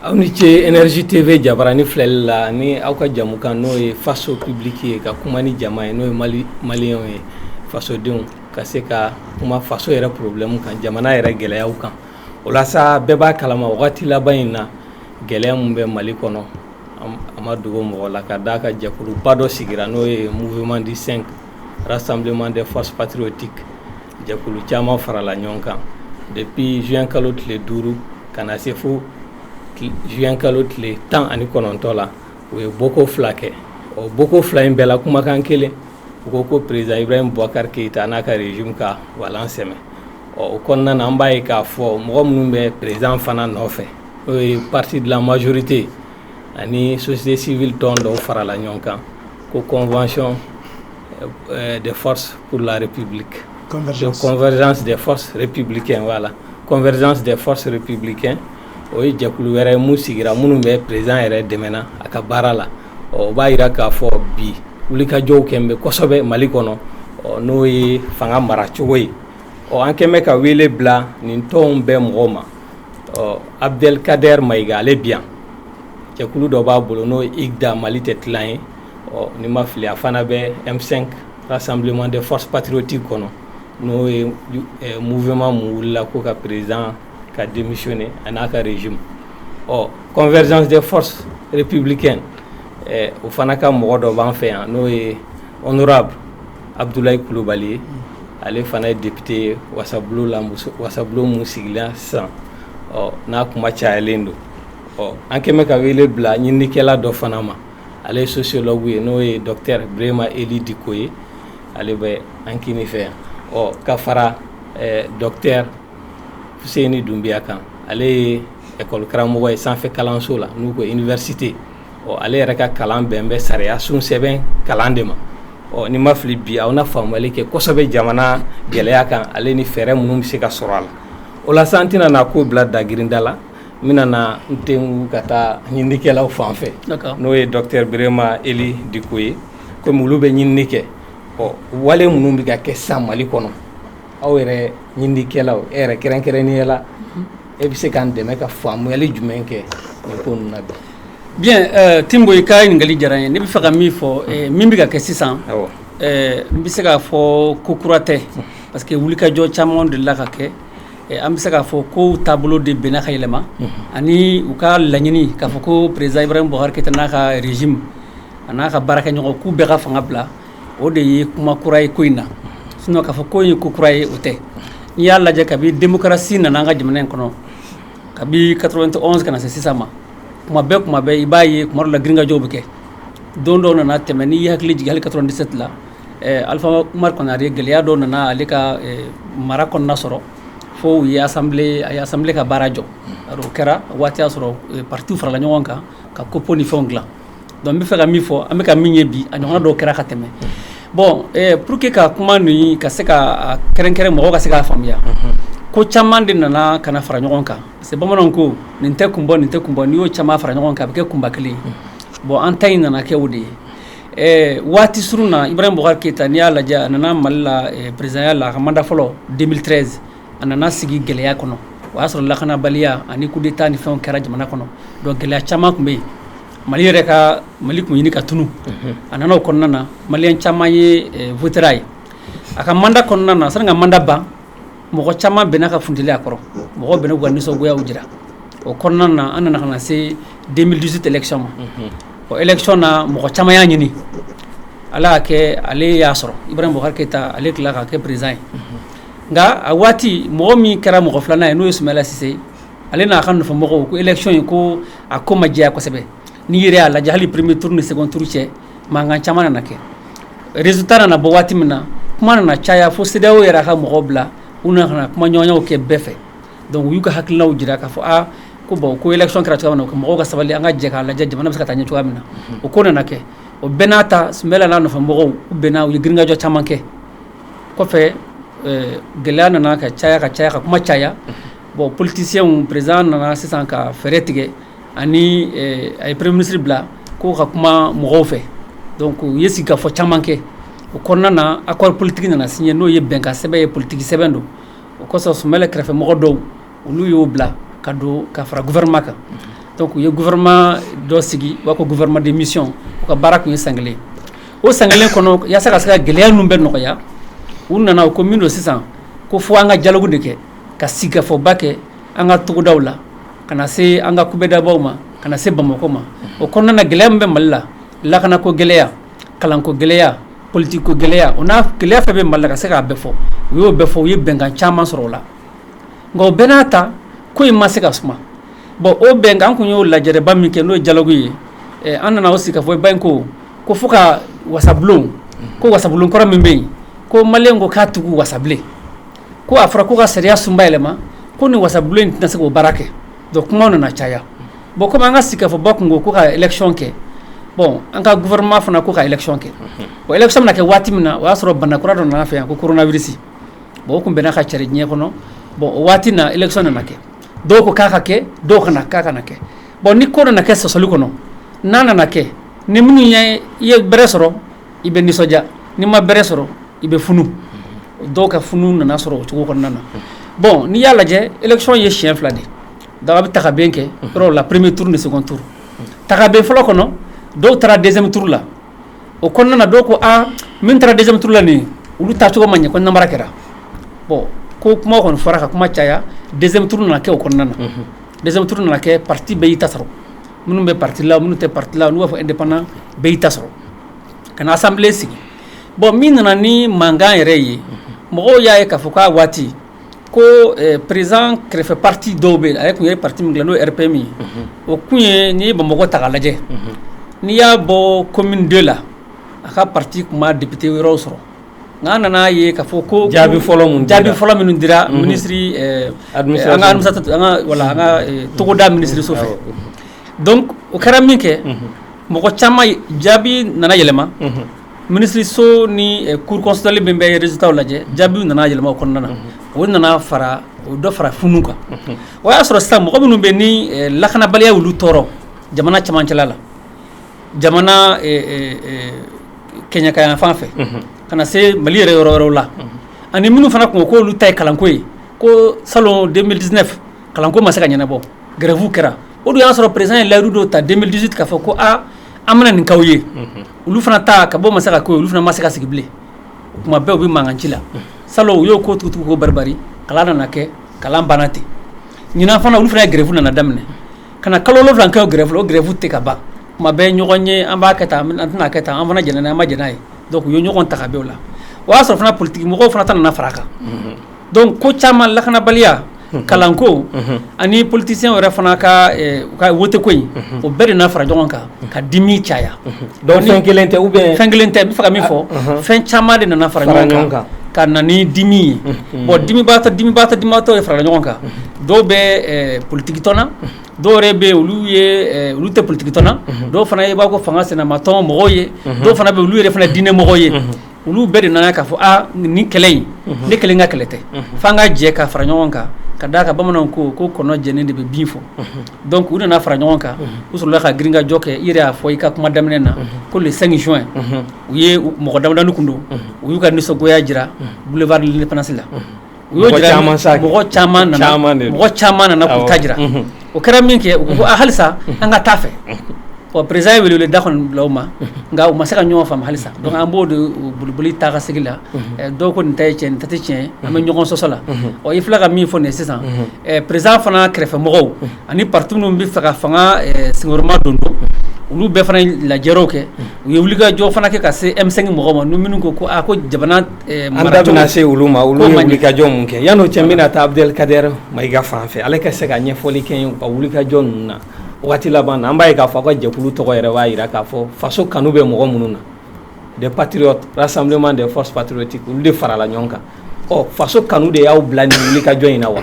Aw ni ce énergie TV jabaranin filɛli la ni aw ka jɛmukan n'o ye faso publique ye ka kuma ni jama ye n'o ye Mali maliyɛnw ye fasodenw ka se ka kuma faso yɛrɛ problème kan jamana yɛrɛ gɛlɛyaw kan o la sa bɛɛ b'a kalama wagati laban in na gɛlɛya min bɛ Mali kɔnɔ a ma dogo mɔgɔ la ka d'a kan jɛkuluba dɔ sigira n'o ye mouvement du 5 rassemblement des forces patriotiques Jɛkulu caman farala ɲɔgɔn kan depuis juin kalo tile duuru ka na se fo juin kalo tile tan ani kɔnɔntɔn la u ye bɔko fila kɛ ɔ bɔko fila in bɛɛ la kumakan kelen u ko ko président Ibrahim Boubacar Keïta n'a ka régime ka walan sɛmɛ ɔ o kɔnɔna an b'a ye k'a fɔ mɔgɔ minnu bɛ président fana nɔfɛ n'o ye parti de la majorité ani société civile tɔn dɔw farala ɲɔgɔn kan ko convention euh, euh, des forces pour la république convergence, de convergence des forces républicaines voilà convergence des forces républicaines o ye jɛkulu wɛrɛ mun sigira minnu bɛ président yɛrɛ dɛmɛna a ka baara la o b'a yira k'a fɔ bi wulikajɔw kɛn bɛ kosɛbɛ Mali kɔnɔ n'o ye fanga mara cogo ye ɔ an kɛn bɛ ka wele bila nin tɔnw bɛɛ mɔgɔw ma ɔ Abdel Kader Maïga ale bi yan cɛkulu dɔ b'a bolo n'o i da mali tɛ tila ye ɔ ni ma fili a fana bɛ e sanbilen de fɔs patiroti kɔnɔ n'o ye mufɛma mun wulila k'o ka perez ka denmuso misiɔni ani n'a ka rez ɔ kɔnfɛɛrɛz tɛ fɔs ppibili kɛ o fana ka mɔgɔ dɔ b'an fɛ yan n'o ye ɔnra abudula kulubali ye ale fana ye depte wasa wasa minnu sigilen sisan ɔ n'a kuma cayalen don ɔ an kɛn bɛ ka wele bila ɲininikɛla dɔ fana ma ale ye sociologue ye n'o ye docteur Bréma Ely Dicko ye ale bɛ an kini fɛ yan ɔ ka fara eh, docteur Fousseyni Doumbia kan ale ye école karamɔgɔ ye sanfɛ kalanso la n'u ko université ɔ ale yɛrɛ ka kalan bɛn bɛ sariya sun sɛbɛn kalan de ma ɔ ni ma fili bi aw na faamuyali kɛ kosɛbɛ jamana gɛlɛya kan ale ni fɛɛrɛ minnu bɛ se ka sɔrɔ a la o la sisan an tɛna na ko bila dagirinda la n bɛna na n tɛnku ka taa ɲininikɛlaw fan fɛ n'o ye docteur Bréma Ely Dicko ye komi olu bɛ ɲinini kɛ ɔ wale minnu bɛ ka kɛ sisan Mali kɔnɔ aw yɛrɛ ɲininikɛlaw e yɛrɛ kɛrɛnkɛrɛnnenya la e bɛ se k'an dɛmɛ ka faamuyali jumɛn kɛ nin ko ninnu na bi bien Timbo i ka ɲininkakali diyara n ye ne bɛ fɛ ka min fɔ min bɛ ka kɛ sisan n bɛ se k'a fɔ ko kura tɛ parce que wulikajɔ caman delila ka kɛ An bɛ se k'a fɔ ko taabolo de bɛnna ka yɛlɛma ani u ka laɲini k'a fɔ ko président Ibrahim Boubacar Keïta n'a ka régime a n'a ka baarakɛɲɔgɔn k'u bɛɛ ka fanga bila o de ye kuma kura ye ko in na sinon k'a fɔ ko ye ko kura ye o tɛ n'i y'a lajɛ kabi démocratie nana an ka jamana in kɔnɔ kabi 91 ka na se sisan ma kuma bɛɛ kuma bɛɛ i b'a ye kuma dɔ la girinkajɔw bɛ kɛ don dɔw nana tɛmɛ n'i y'i hakili jigin hali 97 la Alpha Oumar Konaré gɛlɛya dɔw nana ale ka mara kɔnɔna sɔrɔ fo u ye assemblée ka baara jɔ o kɛra waati y'a sɔrɔ parti farala ɲɔgɔn kan ka COPPO ni fɛnw dilan donc n bɛ fɛ ka min fɔ an bɛ ka min ye bi a ɲɔgɔn dɔw kɛra ka tɛmɛ bon pour que ka kuma ninnu ka se ka kɛrɛnkɛrɛn mɔgɔw ka se k'a faamuya ko caman de nana ka fara ɲɔgɔn kan parce que bamananw ko nin tɛ kun bɔ nin tɛ kun bɔ n'i y'o caman fara ɲɔgɔn kan a bɛ kɛ kunba kelen ye bon an ta in nana kɛ o de ye Ɛɛ waati surun na Ibrahim Boubacar Keïta n'i y'a lajɛ a nana mali la présidentya la a ka mandat fɔlɔ 2013 a nana sigi gɛlɛya kɔnɔ o y'a sɔrɔ lakanabaliya ani coup d'état ni fɛnw kɛra jamana kɔnɔ donc gɛlɛya caman tun bɛ yen mali yɛrɛ ka mali tun ɲini ka tunun a nana o kɔnɔna na maliyɛn caman ye voté a ye a ka mandat kɔnɔna na sani a ka mandat ban mɔgɔ caman bɛnna ka funteni a kɔrɔ mɔgɔ bɛnna k'u ka nisɔngoyaw jira o kɔnɔna na an nana ka na se 2018 élection ma o élection na mɔgɔ caman y'a ɲini ala y'a kɛ ale y'a sɔrɔ Ibrahim Boubacar Keïta ale tila ka kɛ président ye nka a waati mɔgɔ min kɛra mɔgɔ filanan ye n'o ye Soumaïla Cissé ale n'a ka nɔfɛmɔgɔw ko élection in ko a ko ma jɛya kosɛbɛ n'i yɛrɛ y'a lajɛ hali premier tour ni second tour cɛ mankan caman nana kɛ résultat nana bɔ waati min na, kuma nana caya fo CEDEAO yɛrɛ y'a ka mɔgɔw bila u nana ka na kuma ɲɔgɔnyaw kɛ bɛɛ fɛ donc u y'u ka hakilinaw jira k'a fɔ aa ko bon ko élection kɛra cogoya min na mɔgɔw ka sabali an ka jɛ k'a lajɛ jamana bɛ se ka taa ɲɛ cogoya min na o ko nana kɛ o bɛɛ n'a ta Soumaïla n'a nɔfɛ mɔgɔw u bɛnna u ye girinkajɔ caman kɛ kɔfɛ gɛlɛya nana ka caya ka caya ka kuma caya bon politiciens président nana sisan ka fɛɛrɛ tigɛ ani eh, a ye premier ministre bila ko ka kuma mɔgɔw fɛ donc u ye sigikafɔ caman kɛ o kɔnɔna na accord politique nana signé n'o ye bɛnkan sɛbɛn ye politique sɛbɛn don o kosɔn Soumaïla kɛrɛfɛ mɔgɔ dɔw olu y'o bila ka don ka fara gouvernement kan donc u ye gouvernement dɔ sigi u b'a ko gouvernement de mission u ka baara tun ye san kelen o san kelen kɔnɔ yaasa ka se ka gɛlɛya ninnu bɛɛ nɔgɔya u nana u ko min don sisan ko fo an ka dialogue de kɛ ka sigikafɔba kɛ an ka togodaw la ka na se an ka kubedabaw ma ka na se bamakɔ ma o kɔnɔna na gɛlɛya min bɛ mali la lakanako gɛlɛya kalanko gɛlɛya politique ko gɛlɛya o n'a gɛlɛya fɛn bɛ mali la ka se k'a bɛɛ fɔ u y'o bɛɛ fɔ u ye bɛnkan caman sɔrɔ o la nka o bɛɛ n'a ta ko in ma se ka suma bon o bɛnkan an tun y'o lajɛrɛba min kɛ n'o ye dialogue ye an nana o sigikafɔba in ko ko fɔ ka wasabulon ko wasabulon kɔrɔ min bɛ yen ko maliyɛn ko k'a tugu wasabulon ko a fɔra ko ka sariya sunba yɛlɛma ko ni wasabulon in tɛna se k'o baara kɛ donc kumaw nana caya bon comme an ka sigikafɔba tun ko ka élection kɛ bon an ka gouvernement fana ko ka élection kɛ bon élection bɛna kɛ waati min na o y'a sɔrɔ bana kura dɔ nana fɛ yan ko coronavirus bon o tun bɛ na ka cari diɲɛ kɔnɔ bon o waati na élection nana kɛ dɔw ko k'a ka kɛ dɔw ko k'a kana kɛ bon ni ko nana kɛ sɔsɔli kɔnɔ n'a nana kɛ ni minnu ye i ye bɛrɛ sɔrɔ i bɛ nisɔndiya n'i ma bɛrɛ sɔrɔ i bɛ funu dɔw ka funu nana sɔrɔ o cogo kɔnɔna na bon n'i y'a lajɛ élection ye siyɛn fila de daga bɛ taga bɛn kɛ yɔrɔ la premier tour ni second tour taga bɛ fɔlɔ kɔnɔ dɔw taara deuxième tour la o kɔnɔna na dɔw ko aa min taara deuxième tour la nin olu ta cogo ma ɲɛ ko namara kɛra bon ko kuma kɔni fɔra ka kuma caya deuxième tour nana kɛ o kɔnɔna na deuxième tour nana kɛ parti bɛɛ y'i ta sɔrɔ minnu bɛ parti la minnu tɛ parti la olu b'a fɔ indépendant bɛɛ y'i ta sɔrɔ ka na assemblée sigi bon min nana ni mankan yɛrɛ ye mɔgɔw y'a ye k'a fɔ k'a waati ko président kɛrɛfɛ parti dɔw bɛ a tun ye parti min kɛ n'o ye RPM ye o tun ye n'i ye bamakɔ ta k'a lajɛ n'i y'a bɔ commune deux la a ka parti tun ma député wɛrɛw sɔrɔ nka an nana a ye k'a fɔ ko jaabi fɔlɔ jaabi fɔlɔ minnu dira minisiri an ka togoda minisiriso fɛ donc o kɛra minkɛ mɔgɔ caman jaabi nana yɛlɛma minisiriso ni cour constitutionnelle min bɛ résultatw lajɛ jaabiw nana yɛlɛma o kɔnɔna na o nana fara o dɔ fara funu kan o y'a sɔrɔ sisan mɔgɔ minnu bɛ ni lakanabaliya y'olu tɔɔrɔ jamana cɛmancɛla la jamana kɛɲɛkayanfan fɛ ka na se mali yɛrɛ yɔrɔ wɛrɛw la ani minnu fana tun ko olu ta ye kalanko ye ko salon 2019 kalanko ma se ka ɲɛnabɔ grève kɛra o dun y'a sɔrɔ président ye layidu dɔ ta 2018 k'a fɔ ko aa an bɛna nin k'aw ye olu fana ta ka bɔ ma se ka k'o ye olu fana ma se ka sigi bilen o tuma bɛɛ u bɛ mankan ci la salon u y'o ko tugutugu ko baribari kalan nana kɛ kalan banna ten ɲinan fana olu fana ye grève nana daminɛ ka na kalo wolonwula kɛ o grève la o grève tɛ ka ban tuma bɛɛ ɲɔgɔn ye an b'a kɛ tan an tɛna kɛ tan an fana jɛnna n'a ye an ma jɛn n'a ye donc u ye ɲɔgɔn ta ka bɛn o la o y'a sɔrɔ fana politikimɔgɔw fana ta nana fara a kan donc ko caman lakanabaliya kalanko ani politicien yɛrɛ fana ka woteko in o bɛɛ de nana fara ɲɔgɔn kan ka dimi caya donc fɛn kelen tɛ ou bien fɛn kelen tɛ n b'a fɛ ka min fɔ fɛn caman de nana fara ɲɔgɔn kan ka na ni dimi ye bon dimi dimibaatɔ dimibaatɔ ye farala ɲɔgɔn kan dɔw bɛ politikitɔn na dɔw yɛrɛ bɛ olu ye olu tɛ politikitɔn na dɔw fana i b'a ko fanga sinamatɔn mɔgɔw ye dɔw fana bɛ olu yɛrɛ fana diinɛ mɔgɔ ye olu bɛɛ de nana k'a fɔ aa nin kɛlɛ in ne kelen ka kɛlɛ tɛ fo an ka jɛ ka fara ɲɔgɔn kan ka d'a kan bamananw ko ko kɔnɔ jɛnen de bɛ bin fɔ donc u nana fara ɲɔgɔn kan u sɔrɔla ka girinkajɔ kɛ i yɛrɛ y'a fɔ i ka kuma daminɛ na ko le 5 juin u ye mɔgɔ damadɔnin tun don u y'u ka nisɔngoya jira boulevard de l'indépendance la u caman sa mɔgɔ caman mɔgɔ caman nana k'u ta jira o kɛra min kɛ u ko halisa an ka taa fɛ ɔ président ye wele da kɔni bila u ma nka u ma se ka ɲɔgɔn faamu halisa donc an b'o de boliboli taa ka segin la dɔw ko nin ta ye tiɲɛ nin ta tɛ tiɲɛ an bɛ ɲɔgɔn sɔsɔ la ɔ i filɛ ka min fɔ nin sisan président fana kɛrɛfɛmɔgɔw ani parti minnu b'a fɛ ka fanga senkɔrɔmadondon olu bɛɛ fana lajɛw kɛ u ye wuli ka jɔ fana kɛ ka se M5 mɔgɔw ma n minnu ko ko ko jamana An da bɛna se olu ma olu ye wulikajɔ min kɛ yan n'o cɛ n bɛna taa Abdelkader Mayiga fan fɛ ale ka se ka ɲɛfɔli kɛ u ka wulikajɔ ninnu na waati laban na an b'a ye k'a fɔ aw ka jɛkulu tɔgɔ yɛrɛ b'a jira k'a fɔ faso kanu bɛ mɔgɔ minnu na des patriotes rassemblement des forces patriotiques olu de farala ɲɔgɔn kan ɔ faso kanu de y'aw bila nin wulikajɔ in na wa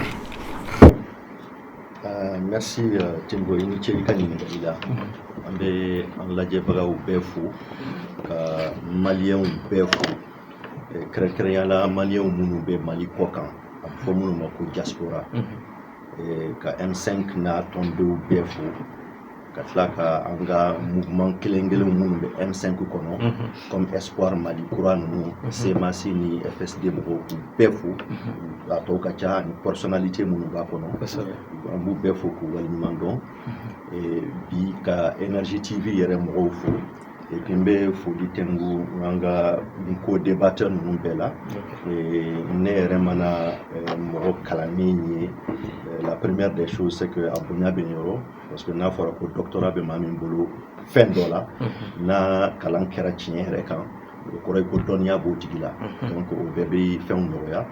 merci Timbo i ni ce i ka ɲininkali la an bɛ an lajɛbagaw bɛɛ fo ka maliyɛnw bɛɛ fo kɛrɛnkɛrɛnya la maliyɛnw minnu bɛ mali kɔ kan a bɛ fɔ minnu ma ko diaspora ka M5 n'a tɔndenw bɛɛ fo ka tila ka an ka mouvement kelen kelen minnu bɛ M5 kɔnɔ mhm. comme Espoir Mali kura ninnu mhm. CMAS ni FSD mɔgɔw k'u bɛɛ fo mhm. a tɔw ka ca ani personnalité minnu b'a kɔnɔ an b'u bɛɛ fo k'u waleɲuman dɔn bi ka Énergie TV yɛrɛ mɔgɔw fo et puis n bɛ foli tɛngu an ka co-débatteur ninnu bɛɛ la ne yɛrɛ mana mɔgɔ kalannen ye la première des choses c'est que a bonya bɛ n yɔrɔ parce que n'a fɔra ko doctorat bɛ maa min bolo fɛn dɔ la n'a kalan kɛra tiɲɛ yɛrɛ kan o kɔrɔ ye ko dɔnniya b'o tigi la donc o bɛɛ bɛ fɛnw nɔgɔya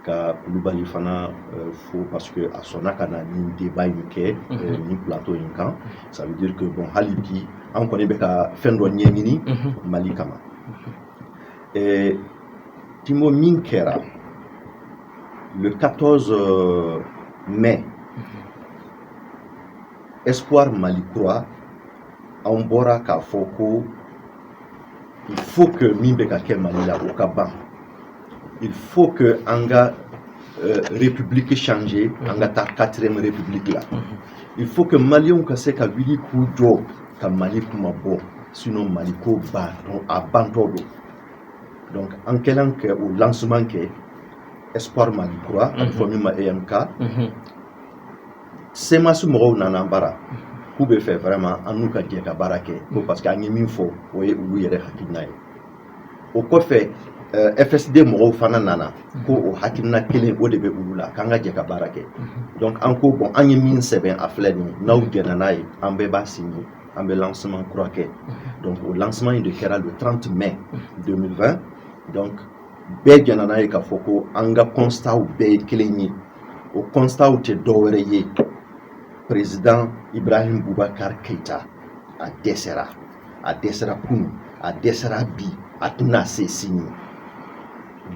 ka kulubali fana euh, fo parce que a sɔnna ka na nin débat in kɛ euh, nin plateau in kan ça veut dire que bon hali bi an kɔni bɛ ka fɛn dɔ ɲɛɲini mali kama Euh, Timbo min kɛra le 14 euh, mai espoir mali kura anw bɔra k'a fɔ ko il faut que min bɛ ka kɛ mali la o ka ban il faut que an ka euh, république changer an ka taa quatrième république la mhm. il faut que maliyɛnw ka se ka wuli k'u jɔ ka mali kunmabɔ sinon mali ko ba a bantɔ don donc an kɛlen k'o lancement kɛ espoir mali kura a bɛ fɔ min ma emk cmas mɔgɔw nana an bara k'u bɛ fɛ vraiment an n'u ka jɛ ka baara kɛ ko parce que an ye min fɔ o ye olu yɛrɛ hakilina ye o kɔfɛ fsd mɔgɔw fana nana ko o hakilina kelen o de bɛ olu la k'an ka jɛ ka baara kɛ donc an ko bon an ye min sɛbɛn a filɛ nin n'aw jɛnna n'a ye an bɛɛ b'a signé an bɛ lancement kura kɛ donc o lancement in de kɛra le 30 mai 2020 donc bɛɛ jɛnna n'a ye k'a fɔ ko an ka constat bɛɛ ye kelen ye o constat tɛ dɔwɛrɛ ye perezidan ibrahim bubakari keyita a dɛsɛra a dɛsɛra kunun a dɛsɛra bi a tɛna se sini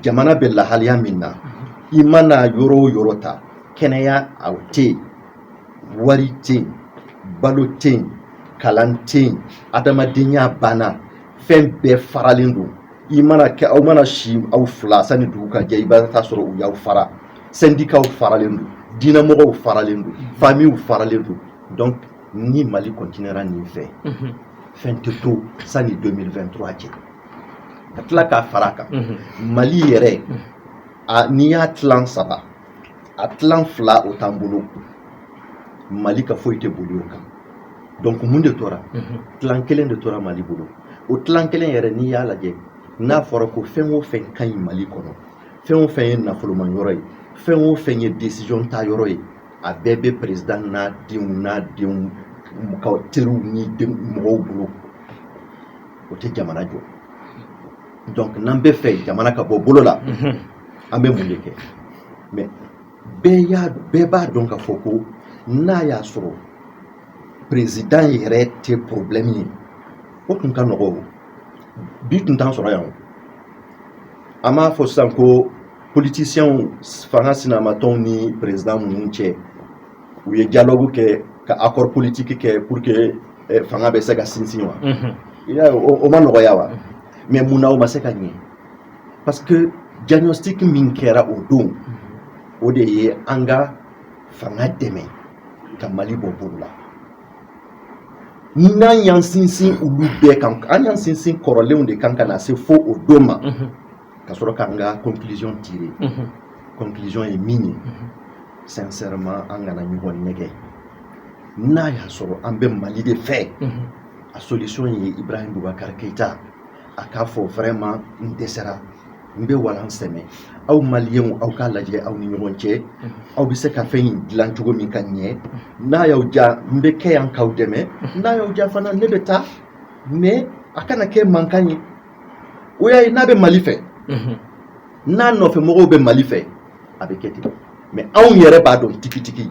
jamana bɛ lahaliya min na i mana yɔrɔ o yɔrɔ ta kɛnɛya a tɛ yen wari tɛ yen balo tɛ yen kalan tɛ yen adamadenya banna fɛn bɛɛ faralen don i mana kɛ aw mana si aw fila sani dugu ka jɛ i b'a taa sɔrɔ u y'aw fara sɛndikaw faralen don diinɛmɔgɔw faralen don famiw faralen don donc ni mali kɔntinera nin fɛ fɛn tɛ to sani 2023 cɛ ka tila k'a fara kan mali yɛrɛ n'i y'a tilan saba a tilan fila o t'an bolo mali ka foyi tɛ boli o kan donc mun de tora tilan kelen de tora mali bolo o tilan kelen yɛrɛ n'i y'a lajɛ n'a fɔra ko fɛn o fɛn ka ɲi mali kɔnɔ fɛn o fɛn ye nafoloman yɔrɔ ye fɛn o fɛn ye décision ta yɔrɔ ye a bɛɛ bɛ président n'a denw n'a denw ka teriw ni mɔgɔw bolo o tɛ jamana jɔ donc n'an bɛ fɛ jamana ka bɔ bolo la an bɛ mun de kɛ mais bɛɛ y'a bɛɛ b'a dɔn k'a fɔ ko n'a y'a sɔrɔ perezidan yɛrɛ tɛ porobilɛmu ye o tun ka nɔgɔ o bi tun t'an sɔrɔ yan o an m'a fɔ sisan ko politisiyɛnw fanga sinamatɔnw ni perezidan ninnu cɛ u ye dialogue kɛ ka accord politique kɛ pour que eh, fanga bɛ se ka sinsin wa i y'a ye o ma nɔgɔya wa mais mun na o ma se ka ɲɛ parce que diagnostic min kɛra o don o de ye an ka fanga dɛmɛ ka mali bɔ bolo la ni n'an y'an sinsin olu bɛɛ kan an y'an sinsin kɔrɔlenw de kan ka na se fo o don ma ka sɔrɔ k'an ka conclusion tirer conclusion ye min ye sincèrement an kana ɲɔgɔn nɛgɛ n'a y'a sɔrɔ an bɛ mali de fɛ a solution ye ibrahim bubakari keyita a k'a fɔ vraiment n dɛsɛra n bɛ walan sɛmɛ aw maliyɛnw aw k'a lajɛ aw ni ɲɔgɔn cɛ aw bɛ se ka fɛn in dilan cogo min ka ɲɛ n'a y'aw diya n bɛ kɛ yan k'aw dɛmɛ n'a y'aw diya fana ne bɛ taa mais a kana kɛ mankan ye o y'a ye n'a bɛ mali fɛ n'a nɔfɛmɔgɔw bɛ mali fɛ a bɛ kɛ ten mais anw yɛrɛ b'a dɔn tigitigi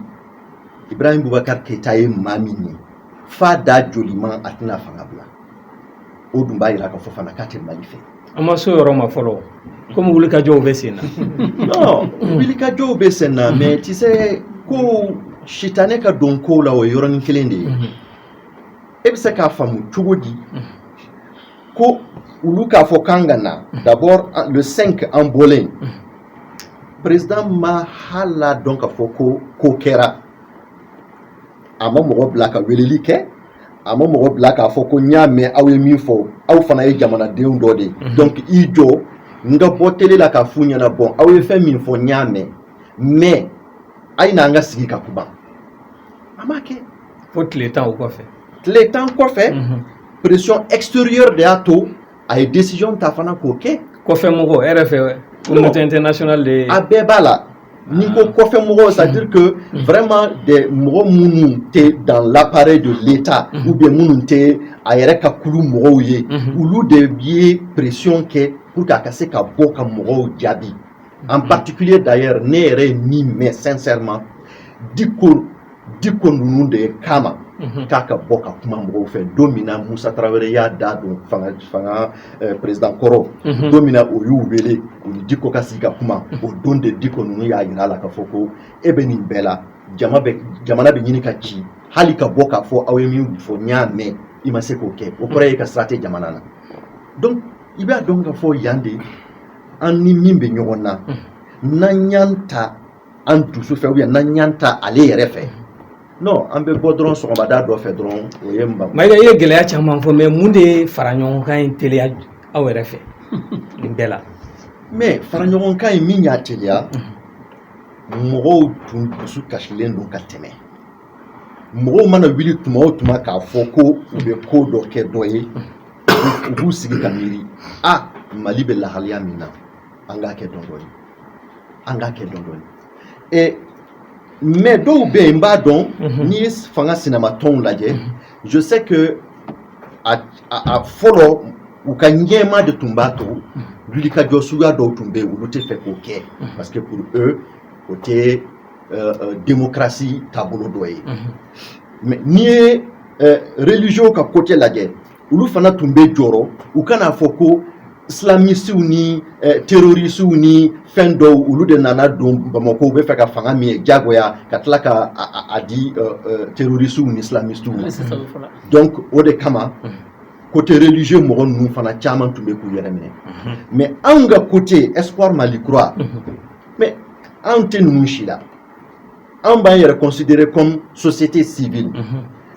ibrahim bubakar keyita ye maa min ye f'a da jolima a tɛna fanga bila o dun b'a jira k'a fɔ fana k'a tɛ mali fɛ an ma s'o yɔrɔ ma fɔlɔ komi wulikajɔw bɛ sen na non wulikajɔw bɛ sen na mais tu sais ko sitanɛ ka don kow la o ye yɔrɔnin kelen de ye e bɛ se k'a faamu cogo di ko olu k'a fɔ k'an ka na d'abord le 5 an bɔlen président ma hal'a dɔn k'a fɔ ko ko kɛra a ma mɔgɔ bila ka weleli kɛ a ma mɔgɔ bila k'a fɔ ko n y'a mɛn aw ye min fɔ aw fana ye jamanadenw dɔ de ye mhm. donc i jɔ n ka bɔ télé la k'a f'u ɲɛna bon aw ye fɛn min fɔ n y'a mɛn mais a ye n'an ka sigi ka kuma a m'a kɛ fo tile tan o kɔfɛ tile tan kɔfɛ mhm. pression extérieure de y'a to a ye décision ta fana k'o kɛ kɔfɛ mɔgɔ e yɛrɛ fɛ communauté internationale de ye a bɛɛ b'a la n'i ko kɔfɛ mɔgɔw c'est à dire que vraiment des mɔgɔ minnu tɛ dans l'appareil de l'état ou bien minnu tɛ a yɛrɛ ka kulu mɔgɔw ye olu de ye pression kɛ pour que a ka se ka bɔ ka mɔgɔw jaabi en particulier d'ailleurs ne yɛrɛ ye min mɛn sincèrement diko diko ninnu de ye kama mhm. k'a ka bɔ ka kuma mɔgɔw fɛ don min na musa tarawele y'a da don fanga fanga eh, president kɔrɔ mhm. don min na o y'u wele u ni diko ka sigi ka kuma mhm. o don de diko ninnu y'a yira a la k'a fɔ ko e bɛ nin bɛɛ la jama bɛ jamana bɛ ɲini ka ci hali ka bɔ k'a fɔ aw ye min fɔ n y'a mɛn i ma se k'o kɛ o kɔrɔ ye k'a sira tɛ jamana na donc i b'a dɔn k'a fɔ yan de an ni min bɛ ɲɔgɔn na n'an y'an ta an dusu fɛ ou bien n'an y'an ta ale yɛrɛ fɛ non an bɛ bɔ dɔrɔn sɔgɔmada dɔ fɛ dɔrɔn o ye mayiga i ye gɛlɛya caman fɔ mais mun de ye faraɲɔgɔnkan in teliya aw yɛrɛ fɛ nin bɛɛ la mais faraɲɔgɔnkan in min y'a teliya mɔgɔw tun dusu kasilen don ka tɛmɛ mɔgɔw mana wuli tuma o tuma k'a fɔ ko u bɛ ko dɔ kɛ dɔ ye u b'u sigi ka miiri a mali bɛ lahaliya min na an k'a kɛ dɔɔni dɔɔni an k'a kɛ dɔɔni dɔɔni ɛ mais dɔw bɛ yen n b'a dɔn mhm. n'i ye fanga sinamatɔnw lajɛ mhm. je sais que a a fɔlɔ u ka ɲɛmaa de tun b'a to mhm. wulikajɔ suguya dɔw tun bɛ yen olu tɛ fɛ k'o kɛ parce que pour eux o tɛ euh, euh, démocratie taabolo dɔ ye mais n'i ye euh, religieux ka côté lajɛ olu fana tun bɛ jɔrɔ u kan'a fɔ ko islamistiw ni eh, terroristiw ni fɛn dɔw olu de nana don bamakɔ u bɛ fɛ ka fanga minɛ jagoya ka tila ka a di eh, eh, terroristiw ni islamistiw ma donc o de kama mhm. côté religieux mɔgɔ ninnu fana caman tun bɛ k'u yɛrɛ minɛ mhm. mais anw ka côté Espoir mali kura mhm. mais anw tɛ ninnu si la anw b'an yɛrɛ considérer comme société civile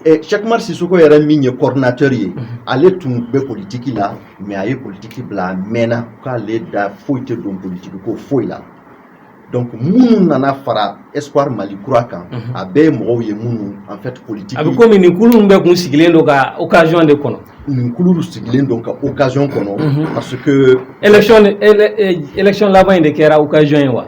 ɛ Cheick Oumar Sissoko yɛrɛ min ye coordinateur ye ale tun bɛ politique la mais a ye politique bila a mɛnna k'ale da foyi tɛ don politique ko foyi la donc minnu nana fara Espoir Mali kura kan a bɛɛ ye mɔgɔw ye minnu en fait politique a bɛ komi nin kulu ninnu bɛɛ tun sigilen don ka occasion de kɔnɔ nin kulu sigilen don ka occasion kɔnɔ parce que élection élection laban in de kɛra occasion ye wa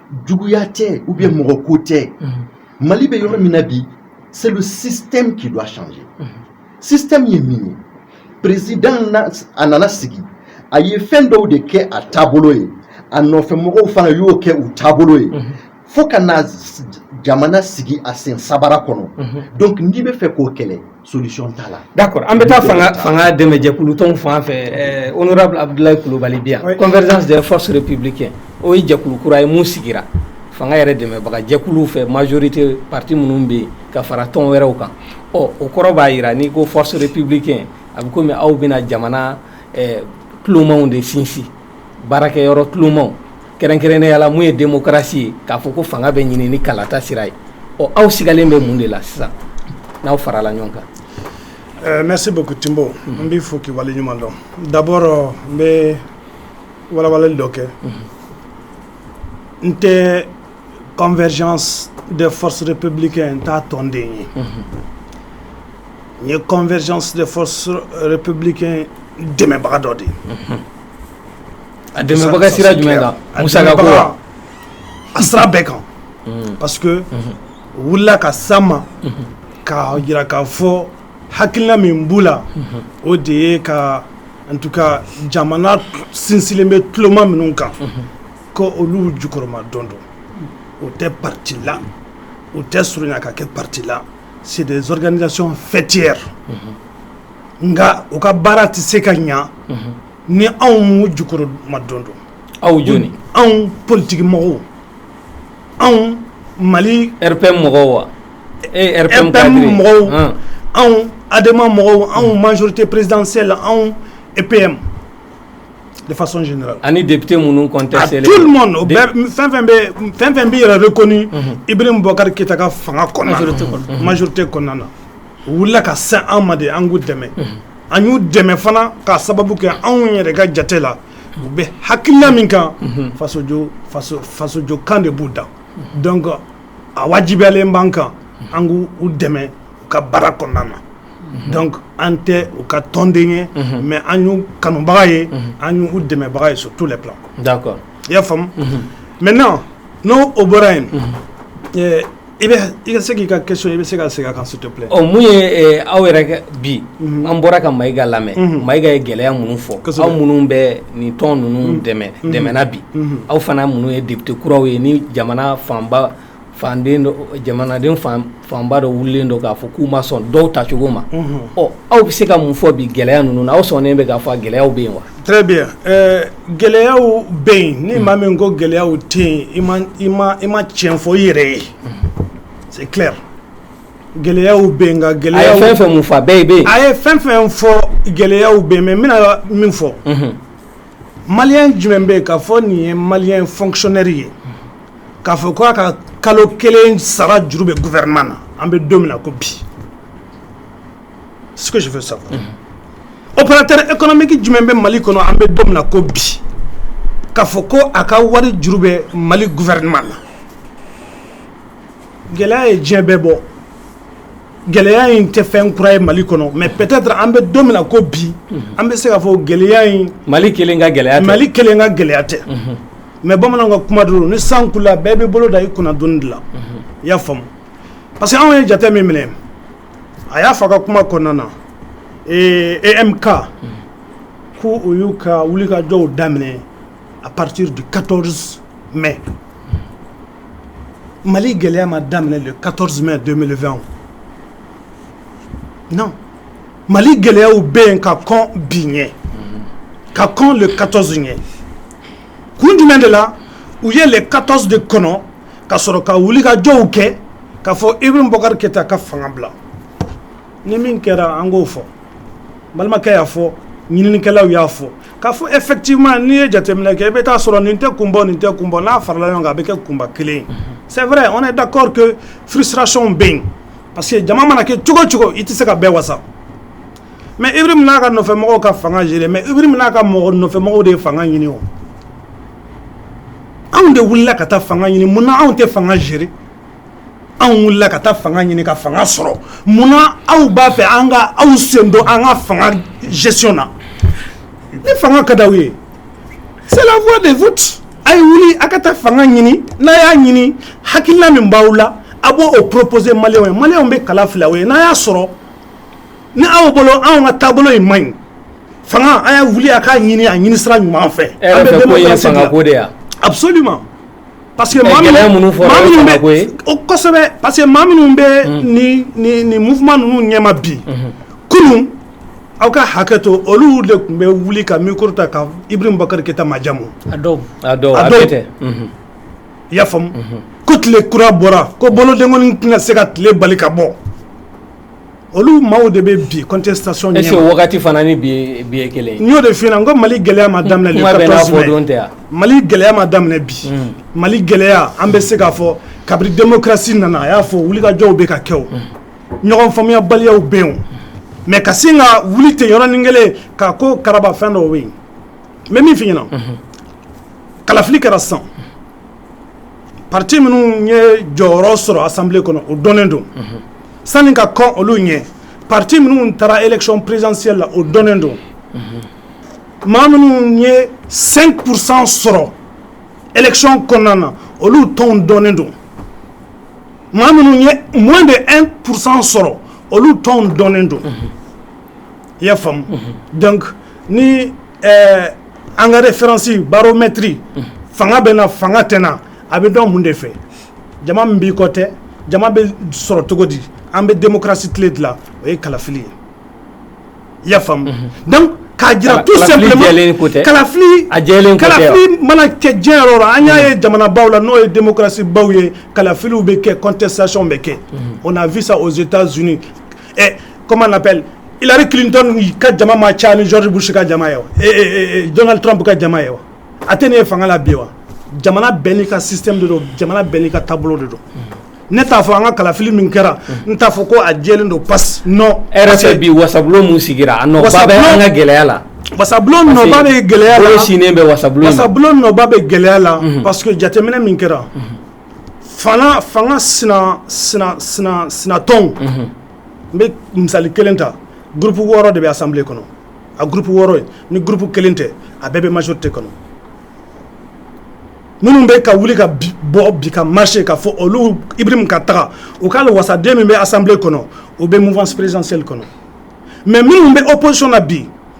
juguya tɛ ou bien mɔgɔ ko tɛ mali bɛ yɔrɔ min na bi c'est le système qui doit changer système ye min ye président a nana sigi a ye fɛn dɔw de kɛ a taabolo ye a nɔfɛ mɔgɔw fana y'o kɛ u taabolo ye fo ka na jamana sigi a sen sabara kɔnɔ donc n'i bɛ fɛ k'o kɛlɛ solution t'a la. d'accord an bɛ taa fanga fanga dɛmɛjɛkulu tɔnw fan fɛ ɛɛ honorable Abudulayi Kulubali bɛ yan. convergence des forces républicaines o ye jɛkulu kura ye min sigira fanga yɛrɛ dɛmɛbaga jɛkuluw fɛ majorité parti minnu bɛ yen ka fara tɔn wɛrɛw kan ɔ o kɔrɔ b'a jira n'i ko force républicaine a bɛ komi aw bɛna jamana ɛɛ tulomaw de sinsin. baarakɛ yɔrɔ clemaw kɛrɛnkɛrɛn ne yala mun ye denkarasi ye k'a fɔ ko fanga bɛ ɲini ni kalata sira ye ɔ aw sigalen bɛ mun de la sisan n'aw farala ɲɔgɔn kan ɛɛ ne se ko tbo n bɛ fɔ kiba ɲuman dɔn dabɔ n bɛ wawa dɔ kɛ n tɛ kɔnfɛz de fos de pebili kɛ n taa tɔnden ye n ye kɔnfɛz de pebili kɛ dɛmɛbaga dɔ de ye A dɛmɛbaga sira jumɛn kan? A musaka ko wa? A dɛmɛbaga, a sira bɛɛ kan, unhun, parce que unhun, u wulila ka s'an ma, unhun, k'a jira k'a fɔ hakilina min b'u la, unhun, o de ye ka en tout cas jamana sinsinlen bɛ tuloma minnu kan, unhun, ko olu jukɔrɔmadondon, o tɛ parti la, o tɛ surunya ka kɛ parti la, c'est des organisations faitières unhun. nka u ka baara tɛ se ka ɲɛ ni anw m'u jukɔrɔmadondon aw jɔn anw politigimɔgɔw anw mali RPM mɔgɔw wa RPM mɔgɔw anw ADEMA mɔgɔw anw majorité présidentielle anw epme defasɔn ani debite minnu kɔnte fɛn fɛn bɛ yɛrɛ reconnu Ibrahim Boubacar Keïta ka fanga kɔnɔna majorité kɔnɔna na u wulila ka sin an ma de an k'u dɛmɛ an y'u dɛmɛ fana k'a sababu kɛ anw yɛrɛ ka jate la u bɛ hakilina min kan fasojɔ kan de b'u da donc a wajibiyalen b'an kan an k' u dɛmɛ u ka baara kɔnɔna na donc an tɛ u ka tɔnden ye mais an y'u kanubaga ye an y' u dɛmɛbaga ye sur tous les plans d'accord i y'a faamu maintenant n'o o bɔra yen I i se k'i ka question i bɛ se ka segin a kan s'il te plaît mun ye aw yɛrɛ bi an bɔra ka Mayiga lamɛn Mayiga ye gɛlɛya minnu fɔ aw minnu bɛ nin tɔn ninnu dɛmɛna bi aw fana minnu ye député kuraw ye ni jamana fanba fan jamanaden fanba dɔ wililen don k'a fɔ k'u ma sɔn dɔw tacogo ma ɔ aw bɛ se ka mun fɔ bi gɛlɛya ninnu na aw sɔnnen bɛ k'a fɔ gɛlɛyaw bɛ yen wa Très bien gɛlɛyaw bɛ yen ni maa min ko gɛlɛyaw tɛ yen i ma tiɲɛ fɔ i yɛrɛ ye c'est clair gɛlɛyaw bɛ yen nka gɛlɛyaw a ye fɛn fɛn mun fɔ bɛɛ bɛ yen a ye fɛn fɛn fɔ gɛlɛyaw bɛ yen mais n bɛna min fɔ malien jumɛn bɛ yen k'a fɔ nin ye malien fonctionnaire ye k'a fɔ ko a ka kalo kelen sara juru bɛ gouvernement na an bɛ don min na ko bi ce que je veux savoir opérateur économique jumɛn bɛ Mali kɔnɔ an bɛ don min na ko bi k'a fɔ ko a ka wari juru bɛ Mali gouvernement la gɛlɛya ye diɲɛ bɛɛ bɔ gɛlɛya in tɛ fɛn kura ye Mali kɔnɔ mais peut-être an bɛ don min na ko bi an bɛ se k'a fɔ gɛlɛya in Mali kelen ka gɛlɛya tɛ Mali kelen ka gɛlɛya tɛ mais bamananw ka kuma don ni san kulula bɛɛ b'i bolo da i kunna doni de la i y'a faamu parce que anw ye jate min minɛ a y'a fɔ a ka kuma kɔnɔna na EMK ko u y'u ka wulikajɔw daminɛ à partir du quatorze mai mali gɛlɛya ma daminɛ le quatorze mai deux mille vingt non mali gɛlɛyaw bɛ yen ka kɔn bi ɲɛ ka kɔn le quatorze ɲɛ kun jumɛn de la u ye le quatorze de kɔnɔ ka sɔrɔ ka wulikajɔw kɛ k'a fɔ Ibrahim Boubacar Keïta ka fanga bila ni min kɛra an k'o fɔ balimakɛ y'a fɔ ɲininikɛlaw y'a fɔ k'a fɔ effectivement n'i ye jateminɛ kɛ i bɛ t'a sɔrɔ nin tɛ kun bɔ nin tɛ kun bɔ n'a farala ɲɔgɔn kan a bɛ kɛ kunba kelen ye c'est vrai on est d'accord que frustration bɛ yen parce que jama mana kɛ cogo cogo i tɛ se ka bɛɛ wasa mais Ibrahim n'a ka nɔfɛmɔgɔw ka fanga gérer mais Ibrahim n'a ka mɔgɔ nɔfɛmɔgɔ de ye fanga ɲini o anw de wulila ka taa fanga ɲini munna anw tɛ fanga gérer anw wulila ka taa fanga ɲini ka fanga sɔrɔ munna aw b'a fɛ an ka aw sen don an ka fanga gestion na ni fanga ka d'aw ye c'est la voie des votes a ye wuli a ka taa fanga ɲini n'a y'a ɲini hakilina min b'aw la a b'o proposer maliyɛnw ye maliyɛnw bɛ kala fili aw ye n'a y'a sɔrɔ ni anw bolo anw ka taabolo in man ɲi fanga a ye wuli a k'a ɲini a ɲini sira ɲuman fɛ absolument parce que minnu kosɛbɛ parce que maa minnu bɛ ni mouvement ninnu ɲɛma bi mm-hmm. kunun aw ka hakɛ to olu de tun bɛ wuli ka micro ta ka Ibrahim Boubacar Keïta majamu i y'a faamu ko tile kura bɔra ko bolodenkɔni tɛna se ka tile bali ka bɔ olu maaw de bɛ bi contestation ɲɛma wagati fana ni bi ye kelen n y'o de f'i ɲɛna n ko mali gɛlɛya ma daminɛ le quatorze mai mali gɛlɛya ma daminɛ bi mali gɛlɛya an bɛ se k'a fɔ kabiri démocratie nana a y'a fɔ wulikajɔw bɛ ka kɛ o ɲɔgɔn faamuyabaliyaw bɛ yen mais ka sin ka wuli ten yɔrɔnin kelen ka ko karaba fɛn dɔw bɛ yen n bɛ min f'i ɲɛna kalafili kɛra san parti minnu ye jɔyɔrɔ sɔrɔ assemblée kɔnɔ o dɔnnen don sani ka kɔn olu ɲɛ parti minnu taara élection présidentielle la o dɔnnen don maa minnu ye cinq pour cent sɔrɔ élection kɔnɔna na olu tɔn dɔnnen don maa minnu ye moins de un pour cent sɔrɔ olu tɔn dɔnnen don i y'a faamu donc ɛɛ an ka référence baromètre fanga bɛ n na fanga tɛ n na a bɛ dɔn mun de fɛ jama min b'i kɔ tɛ jama bɛ sɔrɔ cogo di an bɛ démocratie tile de la o ye kalafili ye i y'a faamu donc k'a jira tout simplement kalafili jɛlen ko tɛ kalafili a jɛlen ko tɛ wa kalafili mana kɛ diɲɛ yɔrɔ o yɔrɔ an y'a ye jamanabaw la n'o ye démocratie baw ye kalafiliw bɛ kɛ contestation bɛ kɛ on a vu ça aux Etats-Unis ɛ comment on appelle Hillary Clinton ka jama ma ca ni George Bush ka jama ye wa Donald Trump ka jama ye wa a tɛ ne ye fanga la bi wa jamana bɛɛ n'i ka système de don jamana bɛɛ n'i ka taabolo de don ne t'a fɔ an ka kalafili min kɛra n t'a fɔ ko a jɛlen don parce que bi wasabulon min sigira a ka gɛlɛya la wasabulon nɔba bɛ gɛlɛya sini bɛ wasabulon nɔba bɛ gɛlɛya la parce que jateminɛ min kɛra fanga sinatɔn n bɛ misali kelen ta groupe wɔɔrɔ de bɛ assemblée kɔnɔ a groupe wɔɔrɔ ye ni groupe kelen tɛ a bɛɛ bɛ majorité kɔnɔ minnu bɛ ka wuli ka bɔ bi ka marcher k'a fɔ olu Ibrahim ka taga u ka wasaden min bɛ assemblée kɔnɔ u bɛ mouvance présidentielle kɔnɔ mais minnu bɛ opposition na bi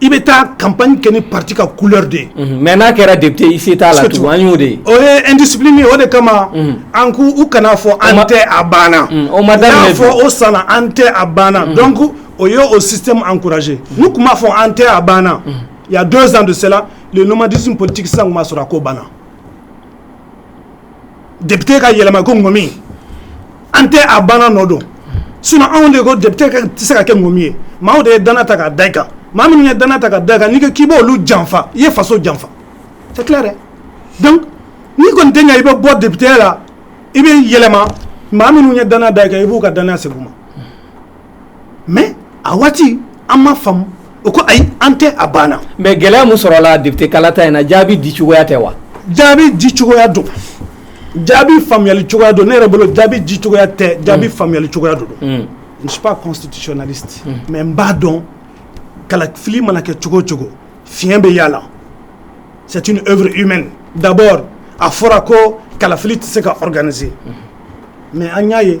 i bɛ taa kap kɛ ni pati ka kuli de ye mɛ n'a kɛra de i se t'a la tugu an'o de o yedis min o de kama an k' u kana fɔ an tɛ a banna o ma da fɔ o san an tɛ a banna dɔn ko o y ye o si an kkurae nu tun b'a fɔ an tɛ a banna ya don zan donla nin ɲumanuma disin politigi san ma sɔrɔ a ko banna depite ka yɛlɛma ko ŋɔmi an tɛ a banna nɔ don sinon anw de ko depite tɛ se ka kɛ ŋɔmi ye maaw de ye dannaya ta k'a da i kan maa minnu ye dannaya ta k'a da i kan n'i k'i b'olu janfa i ye faso janfa c'est clair donc n'i kɔni tɛ yan i bɛ bɔ depiteya la i bɛ yɛlɛma maa minnu ye dannaya da i kan i b'u ka dannaya segin u ma mais a waati an ma faamu u ko ayi an tɛ a banna mais gɛlɛya min sɔrɔla depite kalata in na jaabi di cogoya tɛ wa jaabi di cogoya don jaabi faamuyali cogoya don ne yɛrɛ bolo jaabi di cogoya tɛ jaabi mm. faamuyali cogoya don mm. je ne suis pas constitutionnaliste mm. mais n b'a dɔn kalafili mana kɛ cogo o cogo fiɲɛ bɛ a la c'est une œuvre humaine d'abord a fɔra ko kalafili tɛ se ka organiser mais an y'a ye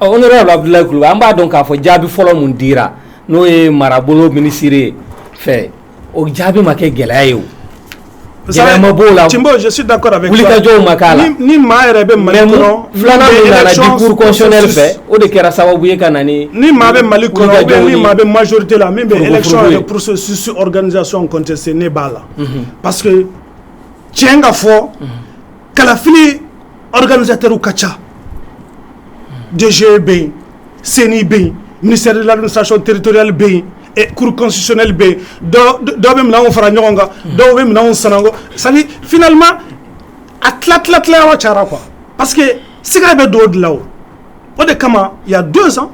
Ɔ o yɔrɔ labila kulu an b'a dɔn k'a fɔ jaabi fɔlɔ min dira n'o ye marabolo minisirire ye fɛ o jaabi ma kɛ gɛlɛya ye o ma b'o la jɔsi da wulikajɔw ma k'a la ni maa yɛrɛ bɛ mali filanan bɛsɛ fɛ o de kɛra sababu ye ka na ni maa bɛ mali maa bɛ mazorite la min bɛsɔn pssu gananizyɔn kɔn tɛ se ne b'a la pa tiɲɛ ka fɔ kalafili kanzsɛteriw ka ca denmisɛnw bɛ yen senni bɛ yen misiriladon satiɔn teriritorili bɛ yen kuruksili bɛ yen dɔw bɛ minɛn fara ɲɔgɔn kan dɔw bɛ minɛn san sa flima a tila tila tilayɔrɔ ca qu pa que s bɛ don dilan o o de kama ya don san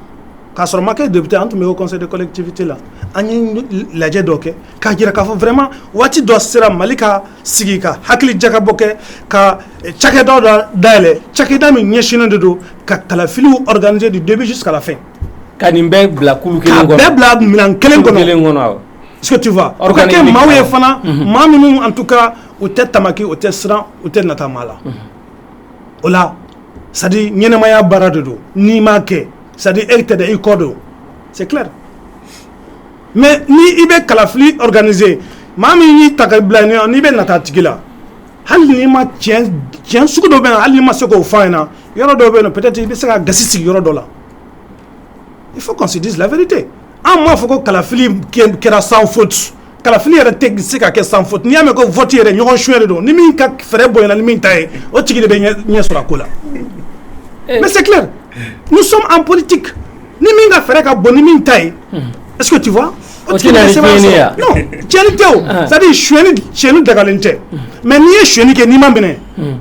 k'a sɔrɔ makɛ de bɛ taa an tun bɛ kɔsɔn de kɔlɛti tɛte la an ye lajɛ dɔ kɛ K'a jira k'a fɔ vraiment waati dɔ sera mali ka sigi ka hakili jakabɔ kɛ ka cakɛda dɔ dayɛlɛn cakɛda min ɲɛsinnen de don ka kalafiliw organiser du début jusqu'à la fin ka nin bɛɛ bila minɛn kelen kɔnɔ est-ce que tu vois o ka kɛ maaw ye fana maa minnu en tout cas u tɛ tamaki u tɛ siran u tɛ nata maa la o la c'est-à-dire ɲɛnamaya baara de don n'i m'a kɛ c'est-à-dire e tɛ i kɔ don c'est clair mais ni i bɛ kalafili organiser maa min y'i ta k'i bila n'i bɛ nata a tigi la hali n'i ma tiɲɛ sugu dɔ bɛ yen hali n'i ma se k'o fɔ a ɲɛ na yɔrɔ dɔw bɛ yen peut-être i bɛ se ka gasi sigi yɔrɔ dɔ la il faut qu'on se dise la vérité an m'a fɔ ko kalafili kɛra sans faute kalafili yɛrɛ tɛ se ka kɛ sans faute n'i y'a mɛn ko vote yɛrɛ ɲɔgɔn sonya de don ni min ka fɛɛrɛ bonyana ni min ta ye o tigi de bɛ ɲɛ sɔrɔ a ko la mais c'est clair nous sommes en politique Ni min ka fɛɛrɛ ka bon ni min ta ye est ce que tu vois o tigi bɛ sɛbɛn sɔrɔ, o tɛ na ni tiɲɛni ye wa? non tiɲɛni tɛ o c'est à dire suɲɛni suɲɛni dagalen tɛ mais n'i ye suɲɛni kɛ n'i ma minɛ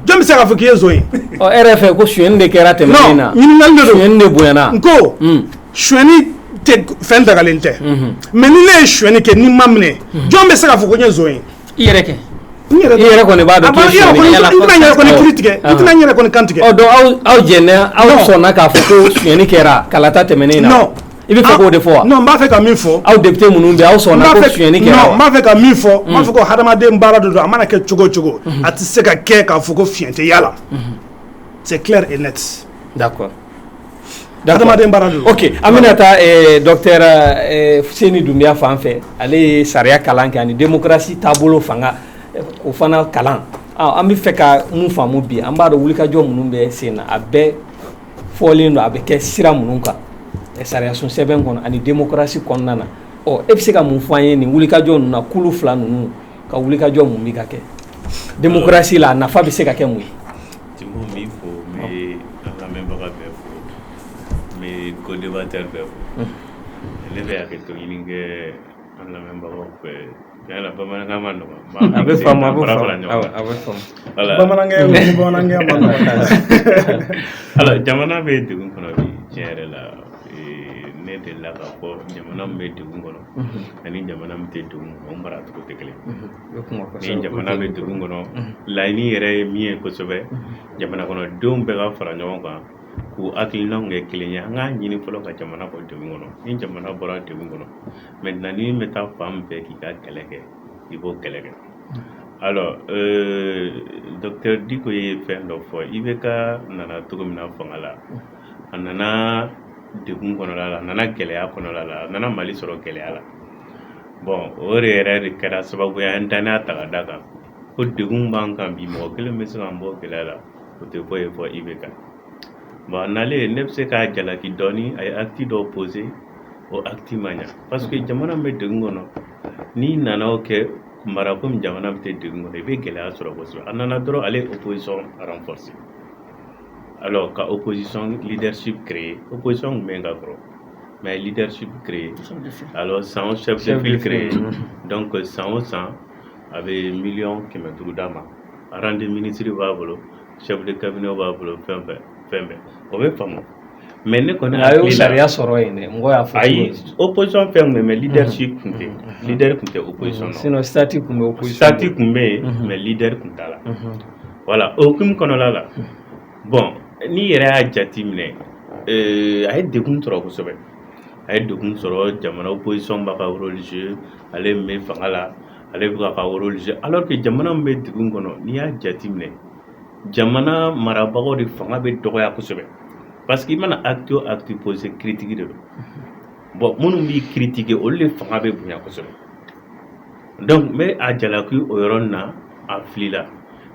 jɔn bɛ se k'a fɔ k'i ye zon ye ɔ e yɛrɛ fɛ ko suɲɛni de kɛra tɛmɛnen na non ɲininkali de don suɲɛni de bonyana n ko suɲɛni tɛ fɛn dagalen tɛ mais ni ne ye suɲɛni kɛ ni n ma minɛ jɔn bɛ se k'a fɔ ko n ye zon ye I yɛrɛ kɛ i yɛrɛ tigɛ aw aw fɔani kɛra kala tɛmɛnen na i bɛ o de fɔ b'a fɛ ka min fɔ aw de minnu bɛ aw sɔn b'a fɛ ka min fɔ b'a fɔ ko hadamaden baara don a mana kɛ cogo cogo a tɛ se ka kɛ k'a fɔ ko fiɲɛtɛ yalala cɛ tila e nati Hadamaden baara don ok an bɛna taa ɛɛ docteur ɛɛ Fuseni Dunbiya fan fɛ ale ye sariya kalan kɛ ani démocratie taabolo fanga o fana kalan ɔ an bɛ fɛ ka mun faamu bi an b'a dɔn wulikajɔ minnu bɛ sen na a bɛɛ fɔlen don a bɛ kɛ sira minnu kan sariyasun sɛbɛn kɔnɔ ani démocratie kɔnɔna na ɔ e bɛ se ka mun fɔ an ye nin wulikajɔ ninnu na kulu fila ninnu ka wulikajɔ min bɛ ka kɛ démocratie la a nafa bɛ se ka kɛ mun ye Timo n b'i fo n bɛ an lamɛnbaga bɛɛ fo n bɛ co-débatteur bɛɛ fo ne bɛ hakɛto ɲini kɛ an lamɛnbagaw fɛ bamanankan man nɔgɔ a bɛ faamu bamanankan man nɔgɔ alors jamana bɛ degun kɔnɔ bi tiɲɛ yɛrɛ la ne delila k'a fɔ jamana min bɛ degun kɔnɔ ani jamana min tɛ degun kɔnɔ u maracogo tɛ kelen O ye kuma kosɛbɛ, ni jamana bɛ degun kɔnɔ, laɲini yɛrɛ ye min ye kosɛbɛ, jamana kɔnɔdenw bɛɛ ka fara ɲɔgɔn kan k'u hakilinaw kɛ kelen ye, an k'a ɲini fɔlɔ ka jamana bɔ degun kɔnɔ, ni jamana bɔra degun kɔnɔ maintenant ni min bɛ taa fan min fɛ k'i ka kɛlɛ kɛ, i b'o kɛlɛ kɛ alors euh, docteur Diko ye fɛn dɔ fɔ IBK nana cogo min na fanga la, a nana degun kɔnɔla la, a nana gɛlɛya kɔnɔla la, a nana Mali sɔrɔ gɛlɛya la. o de yɛrɛ de kɛra sababu ye an ye danaya ta ka d'a kan ko degun b'an kan bi mɔgɔ kelen bɛ se k'an bɔ gɛlɛya la o tɛ foyi ye fɔ IBK bon a nalen ne bɛ se k'a jalaki dɔɔnin a ye acte dɔw posé o acte ma ɲa parce que jamana min bɛ degun kɔnɔ n'i nana o kɛ mara komi jamana min tɛ degun kɔnɔ i bɛ gɛlɛya sɔrɔ kosɛbɛ a nana dɔrɔn ale ye opposition renforcé alors ka opposition leadership créé opposition kun bɛ yen ka kɔrɔ mais leadership créé alors san o chef de file créé donc san o san a bɛ miliyɔn kɛmɛ duuru d'a ma rang de ministre b'a bolo chef de cabinet b'a bolo fɛn fɛn fɛn bɛɛ o bɛ faamu mais ne kɔni a y'o sariya sɔrɔ yen dɛ mɔgɔ y'a fɔ ayi opposition fɛn tun bɛ mais leadership tun tɛ leader tun tɛ opposition na sinon statut tun bɛ opposition statut tun bɛ yen mais leader tun t'a la voilà o hukumu kɔnɔla la bon n'i yɛrɛ y'a jate minɛ a ye degun sɔrɔ kosɛbɛ a ye degun sɔrɔ jamana opposition b'a ka rôle jouer ale min bɛ fanga la ale bɛ ka rôle jouer alors que jamana min bɛ degun kɔnɔ n'i y'a jate minɛ jamana marabagaw de fanga bɛ dɔgɔya kosɛbɛ parce que i mana acte o acte poser critique de don bon minnu b'i critiquer olu de fanga bɛ bonya kosɛbɛ donc n bɛ a jalaki o yɔrɔ na a filila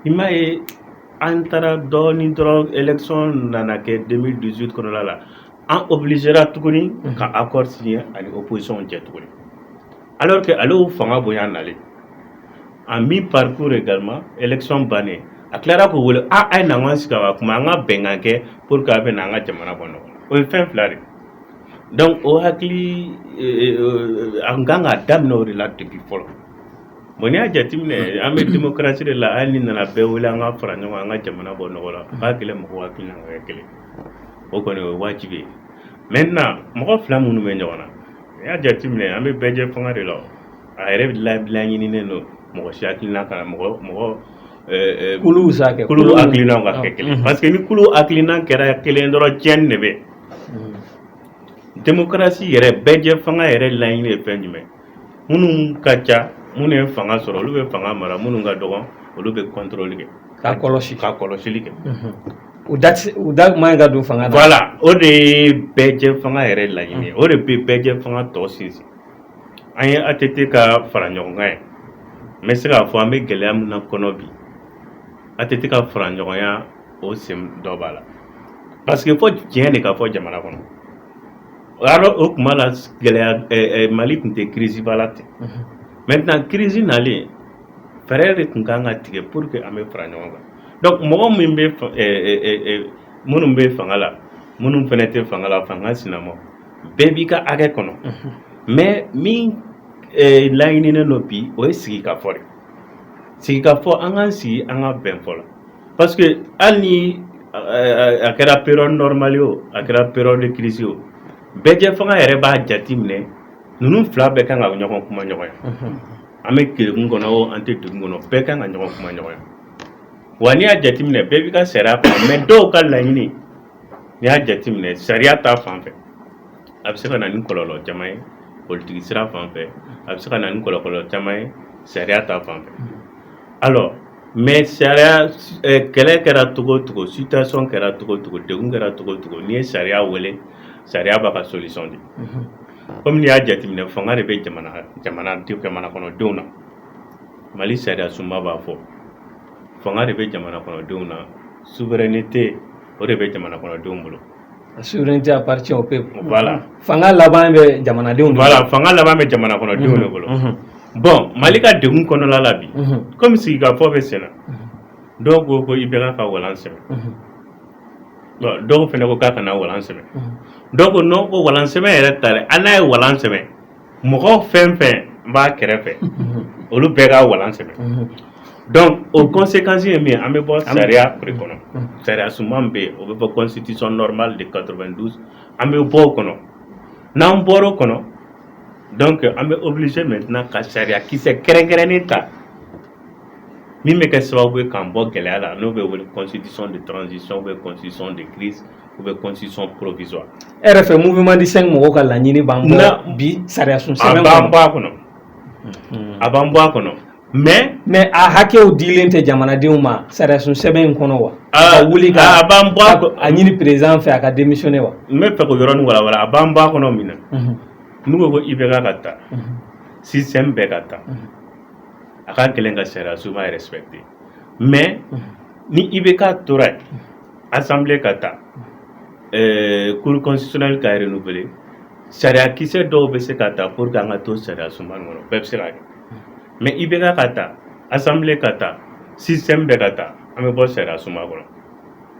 i m'a ye an taara dɔɔnin dɔrɔn election nana kɛ 2018 kɔnɔla la an obligera tuguni ka accord signer ani opposition cɛ tuguni alors que ale y'o fanga bonya nalen en mi-parcours également election bannen a tilara k'o wele a a ye n'an ka sigi ka kuma an ka bɛnkan kɛ pour que a bɛ na an ka jamana bɔ nɔgɔ la o ye fɛn fila de donc o hakili an kan ka daminɛ o de la depuis fɔlɔ Bon n'i y'a jate minɛ an bɛ démocratie de la hali n'i nana bɛɛ wele an ka fara ɲɔgɔn an ka jamana bɔ nɔgɔ la a ka gɛlɛn mɔgɔw hakilina ka kɛ kelen o kɔni o ye waajibi ye maintenant mɔgɔ fila minnu bɛ ɲɔgɔn na n'i y'a jate minɛ an bɛ bɛɛ jɛ fanga de la a yɛrɛ laɲininen don mɔgɔ si hakilina kana mɔgɔ mɔgɔ kulu c'est que kulu hakilina ka kɛ kelen parce que ni kulu hakilina kɛra kelen dɔrɔn tiɲɛni de bɛ démocratie yɛrɛ bɛɛ jɛ fanga yɛrɛ laɲini ye fɛn jumɛn minnu ka ca minnu ye fanga sɔrɔ olu bɛ fanga mara minnu ka dɔgɔn olu bɛ contrôle kɛ ka kɔlɔsi ka kɔlɔsili kɛ u da u da man ka don fanga la o de ye bɛɛ jɛ fanga yɛrɛ laɲini o de bɛ bɛɛ jɛ fanga tɔ sinsin an ye ATT ka fara ɲɔgɔn kan ye n bɛ se k'a fɔ an bɛ gɛlɛya min na kɔnɔ bi ATT ka fara ɲɔgɔnya o sen dɔ b'a la parce que fɔ tiɲɛ de ka fɔ jamana kɔnɔ Alors o tuma la gɛlɛya Mali tun tɛ crise ba la ten, unhun, maintenant crise nalen fɛɛrɛ de tun ka kan ka tigɛ pour que an bɛ fara ɲɔgɔn kan donc mɔgɔ minnu bɛ ɛ minnu bɛ fanga la minnu fana tɛ fanga la fanga sinama bɛɛ b'i ka hakɛ kɔnɔ, unhun, mais min laɲininen don bi o ye sigikafɔ de ye, sigikafɔ an k'an sigi an ka bɛn fɔ la parce que hali ni a kɛra période normale o a kɛra période de crise o bɛɛjɛ fanga yɛrɛ b'a jate minɛ ninnu fila bɛɛ kan ka ɲɔgɔn kuma ɲɔgɔn ye an bɛ degun kɔnɔ o an tɛ degun kɔnɔ bɛɛ kan ka ɲɔgɔn kuma ɲɔgɔn ye wa n'i y'a jateminɛ bɛɛ b'i ka sariya kɔnɔ mais dɔw ka laɲini n'i y'a jateminɛ sariya ta fan fɛ a bɛ se ka na ni kɔlɔlɔ caman ye politiki sira fan fɛ a bɛ se ka na ni kɔlɔlɔ caman ye sariya ta fan fɛ alors mais sariya kɛlɛ kɛra cogo cogo situation kɛra cogo cogo degun kɛra cogo cogo n'i ye sariya wele sariya b'a ka solution di comme n'i y'a jateminɛ fanga de bɛ jamana kɔnɔdenw na Mali sariya sunba b'a fɔ fanga de bɛ jamana kɔnɔdenw na souveraineté o de bɛ jamana kɔnɔdenw bolo Souveraineté appartient au peuple voilà fanga laban bɛ jamanadenw de voilà fanga laban bɛ jamana kɔnɔdenw de bolo bon Mali ka degun kɔnɔla la bi comme sigi ka fɔ bɛ senna dɔw ko ko IBK ka walan sɛmɛ bon dɔw fana ko k'a kana walan sɛmɛ dɔw ko non ko walan sɛmɛ yɛrɛ tɛ hali n'a ye walan sɛmɛ mɔgɔ fɛn fɛn b'a kɛrɛfɛ olu bɛɛ ka walan sɛmɛ donc o conséquence ye min an bɛ bɔ sariya de kɔnɔ sariya sunba bɛ yen o bɛ fɔ constitution normale de 92 an bɛ bɔ o kɔnɔ n'an bɔra o kɔnɔ donc an bɛ obligé maintenant ka sariya kisɛ kɛrɛnkɛrɛnnen ta min bɛ kɛ sababu ye k'an bɔ gɛlɛya la n'o bɛ wele constitution de transition ou bien constitution de crise ou bien constitution provisoire e yɛrɛ fɛ mouvement du 5 mɔgɔw ka laɲini b'an bɔ bi sariya sun sɛbɛn kɔnɔ a b'an bɔ a kɔnɔ a b'an bɔ a kɔnɔ mais a hakɛw dilen tɛ jamanadenw ma sariya sun sɛbɛn in kɔnɔ wa a wuli a b'an bɔ a ɲini président fɛ a ka démissionner wa n b'a fɛ k'o yɔrɔnin walawala a b'an bɔ a kɔnɔ min na n'u ko ko IBK ka taa système bɛɛ ka taa a ka gɛlɛn ka sariya sunba respecter mais ni IBK tora assemblée ka taa cour constitutionnelle ka renouveler sariya kisɛ dɔw bɛ se ka ta pour que an ka to sariya sunba kɔnɔ bɛɛ bɛ se ka kɛ mais IBK ka taa assemblée ka taa système bɛɛ ka taa an bɛ bɔ sariya sunba kɔnɔ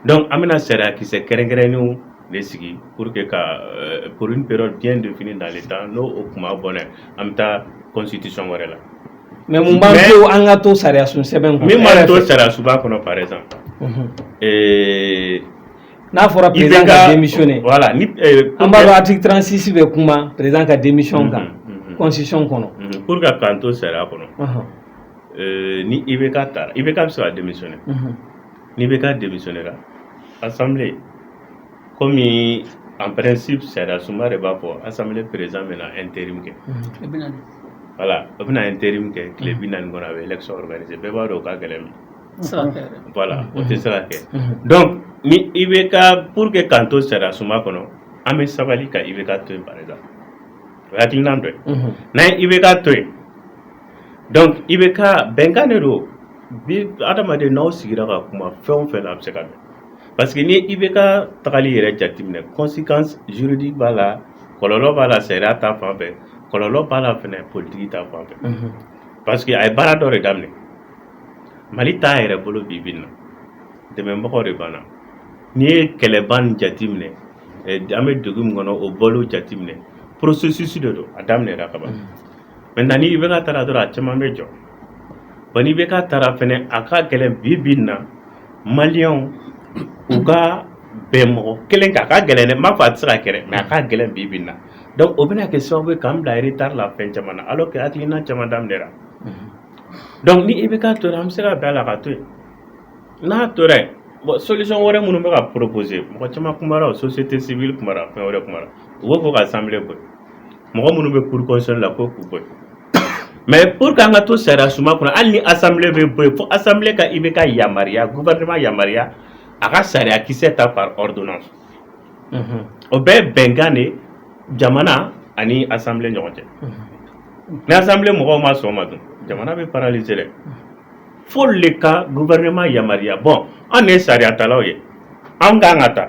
donc an bɛna sariya kisɛ kɛrɛnkɛrɛnnenw de sigi pour que ka pour une période bien définie dans le temps n'o o kuma bɔn an bɛ taa constitution wɛrɛ la Mais mun b'a to an ka to sariya sun sɛbɛn kɔnɔ e yɛrɛ fɛ, min b'an to sariyasunba kɔnɔ par exemple unhun. eh, n'a fɔra président ka démissionner voilà ni eh, an b'a dɔn article 36 bɛ kuma président ka démission kan Mhm, mhm. constitution kɔnɔ Mhm, pour que k'an to sariya kɔnɔ Ɔhɔn, eh, ni IBK taara IBK bɛ se ka démissionner mhm. ni IBK démissionnera assemblée comme en principe sariyasunba de b'a fɔ assemblée président bɛna intérim kɛ voilà o bɛna intérim kɛ tile bi naani kɔnɔ a bɛ élection organiser bɛɛ b'a dɔn o ka gɛlɛn bi voilà o tɛ se ka kɛ donc ni IBK pour que k'an to sariyasunba kɔnɔ an bɛ sabali ka IBK to yen par exemple o ye hakilinan dɔ ye n'an ye IBK to yen donc IBK bɛnkan de don bi adamaden n'aw sigira ka kuma fɛn o fɛn na a bɛ se ka bɛn parce que ni IBK tagali yɛrɛ jateminɛ conséquence juridique b'a la kɔlɔlɔ b'a la sariya ta fan fɛ kɔlɔlɔ b'a la fɛnɛ politique ta fan fɛ parce que a ye baara dɔ de daminɛ Mali t'a yɛrɛ bolo bi bi in na dɛmɛbagaw de b'an na n'i ye kɛlɛba nin jateminɛ an bɛ degun min kɔnɔ o bɔli jateminɛ processus de don a daminɛra ka ban maintenant ni IBK taara dɔrɔn a caman bɛ jɔ. Bon ni IBK taara fɛnɛ a ka gɛlɛn bi bi in na maliyɛnw u ka bɛn mɔgɔ kelen kan a ka gɛlɛn ne m'a fɔ a tɛ se ka kɛ dɛ mais a ka gɛlɛn bi bi in na donc o bɛna kɛ sababu ye k'an bila retard la fɛn caman na alors que hakilina caman daminɛra donc ni IBK tora an bɛ se ka bɛn a la ka to yen n'a tora yen bon solution wɛrɛ minnu bɛ ka proposer mɔgɔ caman kumara o société civile kumara fɛn wɛrɛ kumara u b'a fɔ ka assemblée bɔ mɔgɔ minnu bɛ cour constitutionnelle la ko k'u bɔ yen mais pour que an ka to sariya suma kɔnɔ hali ni assemblée bɛ bɔ yen fo assemblée ka IBK yamaruya gouvernement yamaruya a ka sariya kisɛ ta par ordonnance o bɛɛ ye bɛnkan de ye jamana ani assemblée ɲɔgɔn cɛ ni assemblée mɔgɔw ma sɔn o ma dun jamana bɛ paralyser dɛ f'olu de ka gouvernement yamaruya bon an de ye sariyatalaw ye an kan ka ta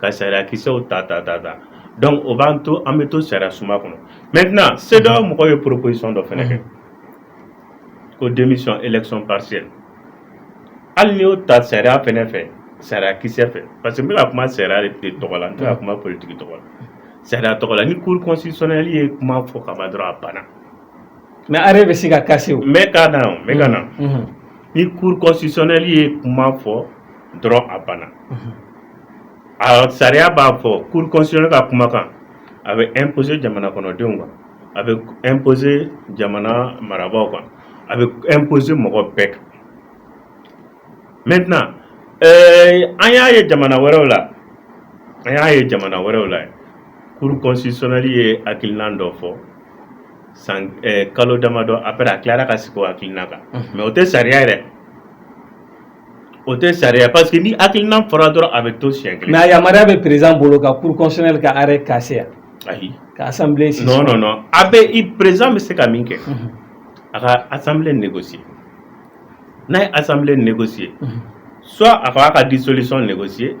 ka sariya kisɛw ta ta ta ta donc o b'an to an bɛ to sariya suma kɔnɔ maintenant CEDEAO mɔgɔw ye proposition dɔ fɛnɛ kɛ ko démission élection partielle hali n'i y'o ta sariya fɛnɛ fɛ sariya kisɛ fɛ parce que n bɛ ka kuma sariya de tɔgɔ la n tɛ ka kuma politique tɔgɔ la sariya tɔgɔ la ni cour constitutionnelle ye kuma fɔ ka ban dɔrɔn a banna mais arrêt bɛ se ka casser o n bɛ ka na o n bɛ ka na ni cour constitutionnelle ye kuma fɔ dɔrɔn a banna. sariya b'a fɔ cour constitutionnelle ka kumakan a bɛ imposer jamana kɔnɔdenw kan a bɛ imposer jamana marabaaw kan a bɛ imposer mɔgɔ bɛɛ kan maintenant ɛɛ an y'a ye jamana wɛrɛw la an y'a ye jamana wɛrɛw la cour constitutionnelle ye hakilina dɔ fɔ san kalo damadɔ après a tilara ka segin o hakilina kan mais o tɛ sariya yɛrɛ O tɛ sariya pa que ni hakili nina fɔra dɔrɔn a bɛ to si kelen a yamaruya bɛ perez bolo ka psila ka ara kasiya ayi ka a bɛ i perez bɛ se ka min kɛ a ka asa nɛgɛsi n'a ye asa nɛgɛsi ye so a fa a ka di solisɔn nɛgɛsi ye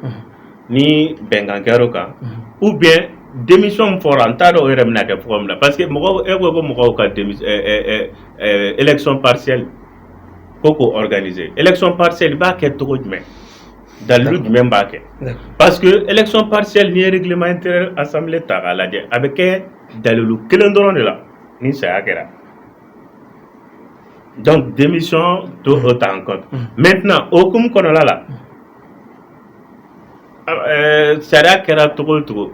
ni bɛnkankɛ o kan u bɛn denmisɛn fɔra n t'a dɔw yɛrɛ min kɛ fɔ min na parce que mɔgɔ e ko ko mɔgɔw ka esɔn pasili ko k'o organiser élection partielle i b'a kɛ cogo jumɛn dalilu jumɛn b'a kɛ parce que élection partielle n'i ye règlement intérieur assemblée ta k'a lajɛ a bɛ kɛ dalilu kelen dɔrɔn de la ni saya kɛra donc démission to o ta en compte maintenant o hukumu kɔnɔna la Sariya kɛra cogo cogo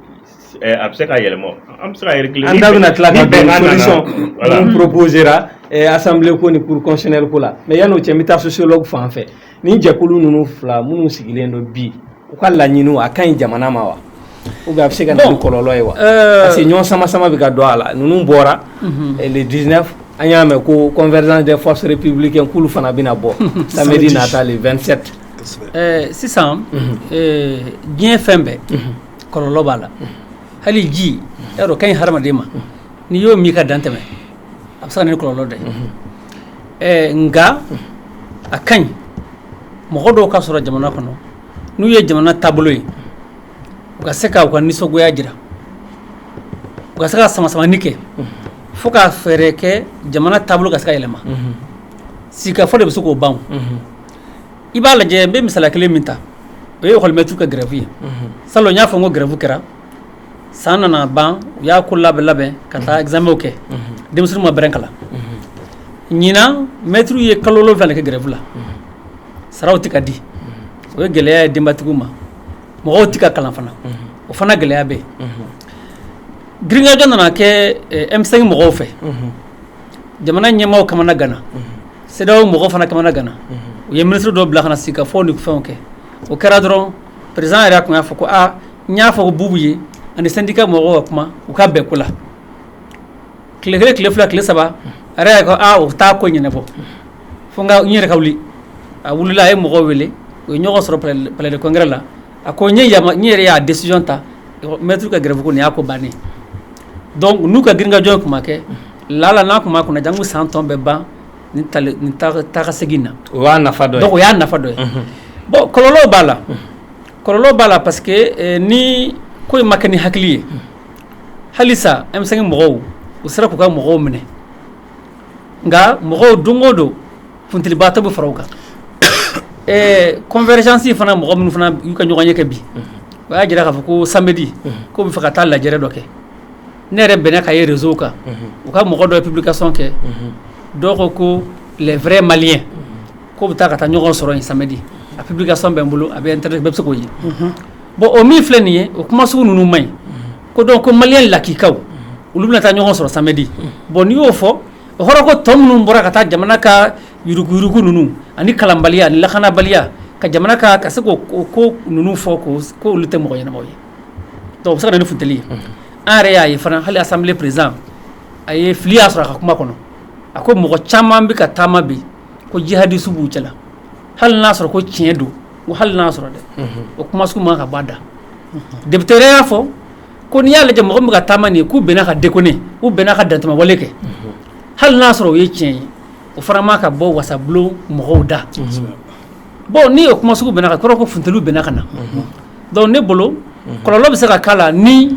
a bɛ se ka yɛlɛma an bɛ se an da bɛna tila kaorosera asan ko ni pksɛri ko la mɛ yan n'o cɛ bɛ taa so selaw fan fɛ ni jɛkulu ninnu fila minnu sigilen don bi u ka laɲini a ka ɲi jamana ma wa u bɛ se ka kɔlɔnlɔ ye wa parce que ɲɔgɔn sama sama bɛ ka don a la ninnu bɔra di an y'a mɛn ko kɔnfɛɛrɛ de fɔsari ppibilikɛ kulu fana bɛna bɔ sari na taa le2sɛte sisan diɲɛ fɛn bɛɛ kɔlɔlɔ b'a la hali ji y'a dɔn ka ɲi hadamaden ma n'i y'o min ka dan tɛmɛ a bɛ se ka na ni kɔlɔlɔ dɔ ye nka a ka ɲi mɔgɔ dɔw ka sɔrɔ jamana kɔnɔ n'u ye jamana taabolo ye u ka se k'u ka nisɔngoya jira u ka se ka samasamani kɛ fo ka fɛɛrɛ kɛ jamana taabolo ka se ka yɛlɛma sigikafɔ de bɛ se k'o ban i b'a lajɛ n bɛ misaliya kelen min ta o ye école maître ka grève ye salon n y'a fɔ n ko grève kɛra san nana ban u y'a ko labɛn labɛn ka taa examenw kɛ denmisɛnninw ma bɛrɛ kalan ɲinan maître ye kalo wolonwula de kɛ grève la saraw tɛ ka di o ye gɛlɛya ye denbatigiw ma mɔgɔw tɛ ka kalan fana o fana gɛlɛya bɛ yen girinkajɔ nana kɛ M5 mɔgɔw fɛ jamana ɲɛmɔgɔw kamanaganna CEDEAO mɔgɔw fana kamanaganna u ye ministre dɔ bila ka na sigikafɔ ni fɛnw kɛ o kɛra dɔrɔn président yɛrɛ tun y'a fɔ ko aa n y'a fɔ ko Bubu ye ani syndicat mɔgɔw ka kuma u ka bɛn ko la tile kelen tile fila tile saba a yɛrɛ ko o t'a ko ɲɛnabɔ fo n yɛrɛ ka wuli a wulila a ye mɔgɔw wele u ye ɲɔgɔn sɔrɔ palais de congrès la a ko n yɛrɛ y'a décision ta maître ka grève ko nin y'a ko bannen don n'u ka girinkajɔ tun ma kɛ lala n'a tun ma kunna janko san tun bɛ ban nin taa ka segin na o y'a nafa dɔ ye donc o y'a nafa dɔ ye bon kɔlɔlɔ b'a la kɔlɔlɔ b'a la parce que ni ko in ma kɛ ni hakili ye halisa M5 mɔgɔw u sera k'u ka mɔgɔw minɛ nka mɔgɔw don o don Funtilibaatɔ bɛ fara u kan ɛɛ convergence fana mɔgɔ minnu fana y'u ka ɲɔgɔn ye kɛ bi o y'a jira k'a fɔ ko samedi ko bɛ fɛ ka taa lajɛrɛ dɔ kɛ ne yɛrɛ bɛnna ka ye réseau kan u ka mɔgɔ dɔ ye publication kɛ dɔw ko ko les vrais maliens ko bɛ taa ka taa ɲɔgɔn sɔrɔ yen samedi a publication bɛ n bolo a bɛ internet bɛɛ bɛ se k'o ye bon o min filɛ nin ye o kuma sugu ninnu man ɲi ko donc ko malien lakikaw olu bɛna taa ɲɔgɔn sɔrɔ samedi bon n'i y'o fɔ o kɔrɔ ko tɔ minnu bɔra ka taa jamana ka yuruguyugu ninnu ani kalanbaliya ani lakanabaliya ka jamana ka ka se ko ko ninnu fɔ ko ko olu tɛ mɔgɔ ɲɛnamaw ye donc o bɛ se ka na ni funtili ye an yɛrɛ y'a ye fana hali assemblée président a ye fili y'a sɔrɔ a ka kuma kɔnɔ a ko mɔgɔ caman bɛ ka taama bi ko jihadiste b'u cɛla hali n'a sɔrɔ ko tiɲɛ don hali n'a sɔrɔ dɛ o kuma sugu man ka b'a da député yɛrɛ y'a fɔ ko n'i y'a lajɛ mɔgɔ min bɛ ka taama nin ye k'u bɛna ka déconner u bɛna ka dantɛmɛwale kɛ hali n'a sɔrɔ o ye tiɲɛ ye o fana man ka bɔ wasabulon mɔgɔw da bon n'i ye o kuma sugu mɛn k'a kɔrɔ ko funtiliw bɛna ka na donc ne bolo kɔlɔlɔ bɛ se ka k'a la ni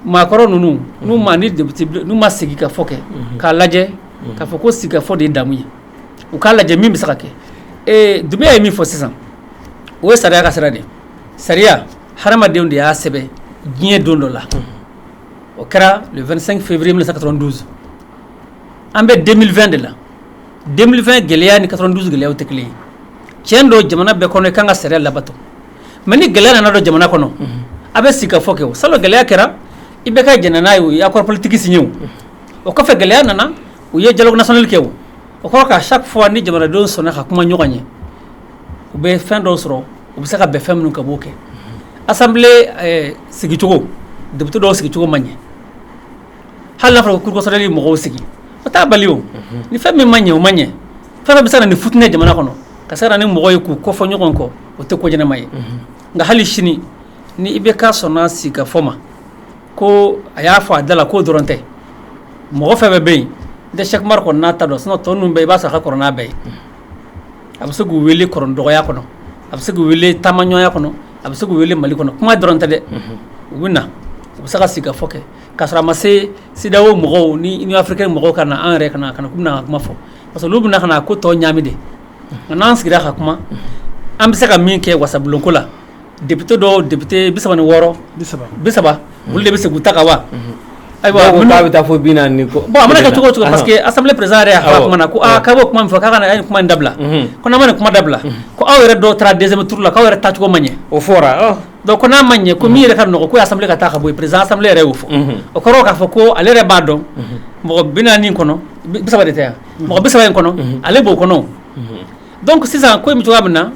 maakɔrɔ ninnu n'u ma ni n'u ma sigi ka fɔ kɛ k'a lajɛ k'a fɔ ko sigi ka fɔ de ye damu ye u k'a lajɛ min bɛ se ka kɛ Dunbiya ye min fɔ sisan o ye sariya ka sira de sariya hadamadenw de y'a sɛbɛn diɲɛ don dɔ la o kɛra 2 fɛnfurue minɛ sa ka dɔrɔn donso an bɛ denfɛn de la denfɛn gɛlɛyaya ni ka dɔrɔn donso gɛlɛya tɛ kelen ye cɛn don jamana bɛɛ kɔnɔ i ka kan ka sariya labato mɛ ni gɛlɛya nana don jamana kɔnɔ a bɛ sigi ka fɔ kɛ sa gɛlɛya kɛra i bɛ ka j n'a ye o y'a kɔrɔpolitigisi ye o kɔfɛ gɛlɛya nana u ye jagosali kɛ o kɔrɔ ka sa fɔ ni jamanadenw sɔnna ka kuma ɲɔgɔn ye u bɛ fɛn dɔ sɔrɔ u bɛ se ka bɛn fɛn minnu kan u b'o kɛ assemblée sigicogo député dɔw sigicogo man ɲɛ hali n'a fɔra ko cour constitutionnelle ye mɔgɔw sigi o t'a bali ni fɛn min man ɲɛ o man ɲɛ fɛn fɛn bɛ se ka na ni fitinɛ jamana kɔnɔ ka se ka na ni mɔgɔ ye k'u kɔ fɔ ɲɔgɔn kɔ o tɛ ko ɲɛnama ye nka hali sini ni i bɛ ka sɔnna sigi ka fɔ ma ko a y'a fɔ a da la k'o dɔrɔn tɛ mɔgɔ fɛn bɛɛ bɛ yen n tɛ Cheick Oumar kɔni n'a ta dɔn sinon tɔ ninnu bɛɛ i b'a sɔrɔ a ka kɔrɔ n'a bɛɛ ye a bɛ se k'u weele kɔrɔ dɔgɔya kɔnɔ a bɛ se k'u weele taamaɲɔgɔnya kɔnɔ a bɛ se k'u weele Mali kɔnɔ kuma dɔrɔn tɛ dɛ u bɛ na u bɛ se ka sigi ka fɔ kɛ ka sɔrɔ a ma se CEDEAO mɔgɔw ni Union africaine mɔgɔw ka na an yɛrɛ ka na k'u bɛna kuma fɔ parce olu bɛna ka na ko tɔ ɲaami de nka n'an sigira ka kuma an bɛ se ka min kɛ wasabulonko la Député dɔw député bi saba ni wɔɔrɔ bi saba olu de bɛ se k'u ta ka wa ayiwa bɛ taa fɔ bi naani bon a mana kɛ cogo cogo parce que assemblée président yɛrɛ y'a fɔ a kuma na ko a b'o kuma min fɔ k'an ye kuma in dabila ko n'an ma nin kuma dabila ko aw yɛrɛ dɔw taara deuxième tour la aw yɛrɛ tacogo ma ɲɛ o fɔra ko n'a ma ɲɛ ko min yɛrɛ ka nɔgɔ ko assemblée k'a ta ka bɔ yen président assemblée yɛrɛ y'o fɔ o kɔrɔ k'a fɔ ko ale yɛrɛ b'a dɔn mɔgɔ bi naani kɔnɔ bi saba de tɛ yan mɔgɔ bi saba in kɔnɔ ale b'o kɔnɔ donc sisan ko cogoya min na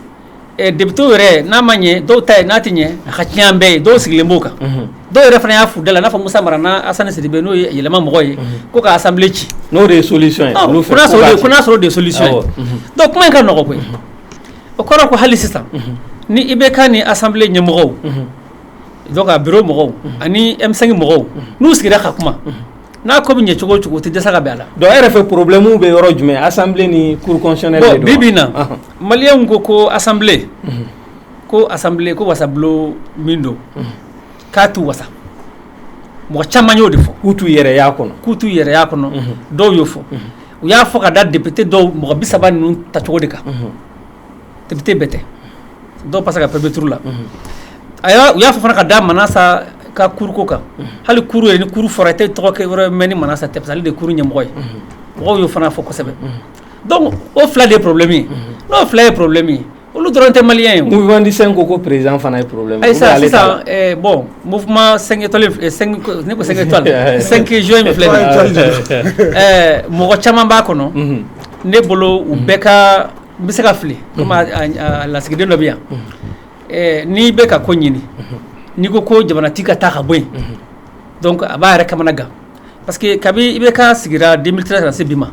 député yɛrɛ n'a ma ɲɛ dɔw ta ye n'a tɛ ɲɛ a ka ci a bɛɛ ye dɔw sigilen b'o kan dɔw yɛrɛ fana y'a f'u da la n'a fɔ musa mara n' Asani Sidibe n'o ye yɛlɛma mɔgɔ ye ko ka assemblée ci n'o de ye solution ye ko n'a sɔrɔ o de ye solution ye donc kuma in ka nɔgɔ koyi o kɔrɔ ko hali sisan ni IBK ni assemblée ɲɛmɔgɔw donc a bureau mɔgɔw ani M5 mɔgɔw n'u sigira ka kuma n'a ko bɛ ɲɛ cogo o cogo tɛ dɛsɛ ka bɛn a la donc e yɛrɛ fɛ problème bɛ yɔrɔ jumɛn assemblée ni cour constitutionnelle bi bi in na Maliyɛnw ko ko assemblée ko assemblée ko wasabulon min don k'a t'u wasa mɔgɔ caman y'o de fɔ k'u t'u yɛrɛ kɔnɔ k'u t'u yɛrɛ y'a kɔnɔ dɔw y'o fɔ u y'a fɔ ka da député dɔw mɔgɔ bi saba ninnu tacogo de kan député bɛɛ tɛ dɔw passé ka premier tour la a u y'a fɔ fana ka da Manasa ka cour ko kan hali cour yɛrɛ ni cour fɔra i tɛ tɔgɔ wɛrɛ mɛn ni Manasa tɛ parce que ale de ye cour ɲɛmɔgɔ ye mɔgɔw y'o fana fɔ kosɛbɛ Donc o fila de ye problème ye, unhun, n'o fila ye problème ye olu dɔrɔn tɛ maliyɛn ye o, mouvement du 5 ko ko président fana ye problème ye, ayi sa sisan ɛɛ bon mouvement 5 étoiles in 5 ne ko 5 étoiles 5 juin min filɛ nin ye ɛɛ mɔgɔ caman b'a kɔnɔ, unhun, ne bolo u bɛɛ ka n bɛ se ka fili komi a lasigiden dɔ bɛ yan ɛɛ n'i bɛ ka ko ɲini n'i ko ko jamanatigi ka taa ka bɔ yen donc a b'a yɛrɛ kamana gan parce que kabi IBK sigira 2013 ka na se bi ma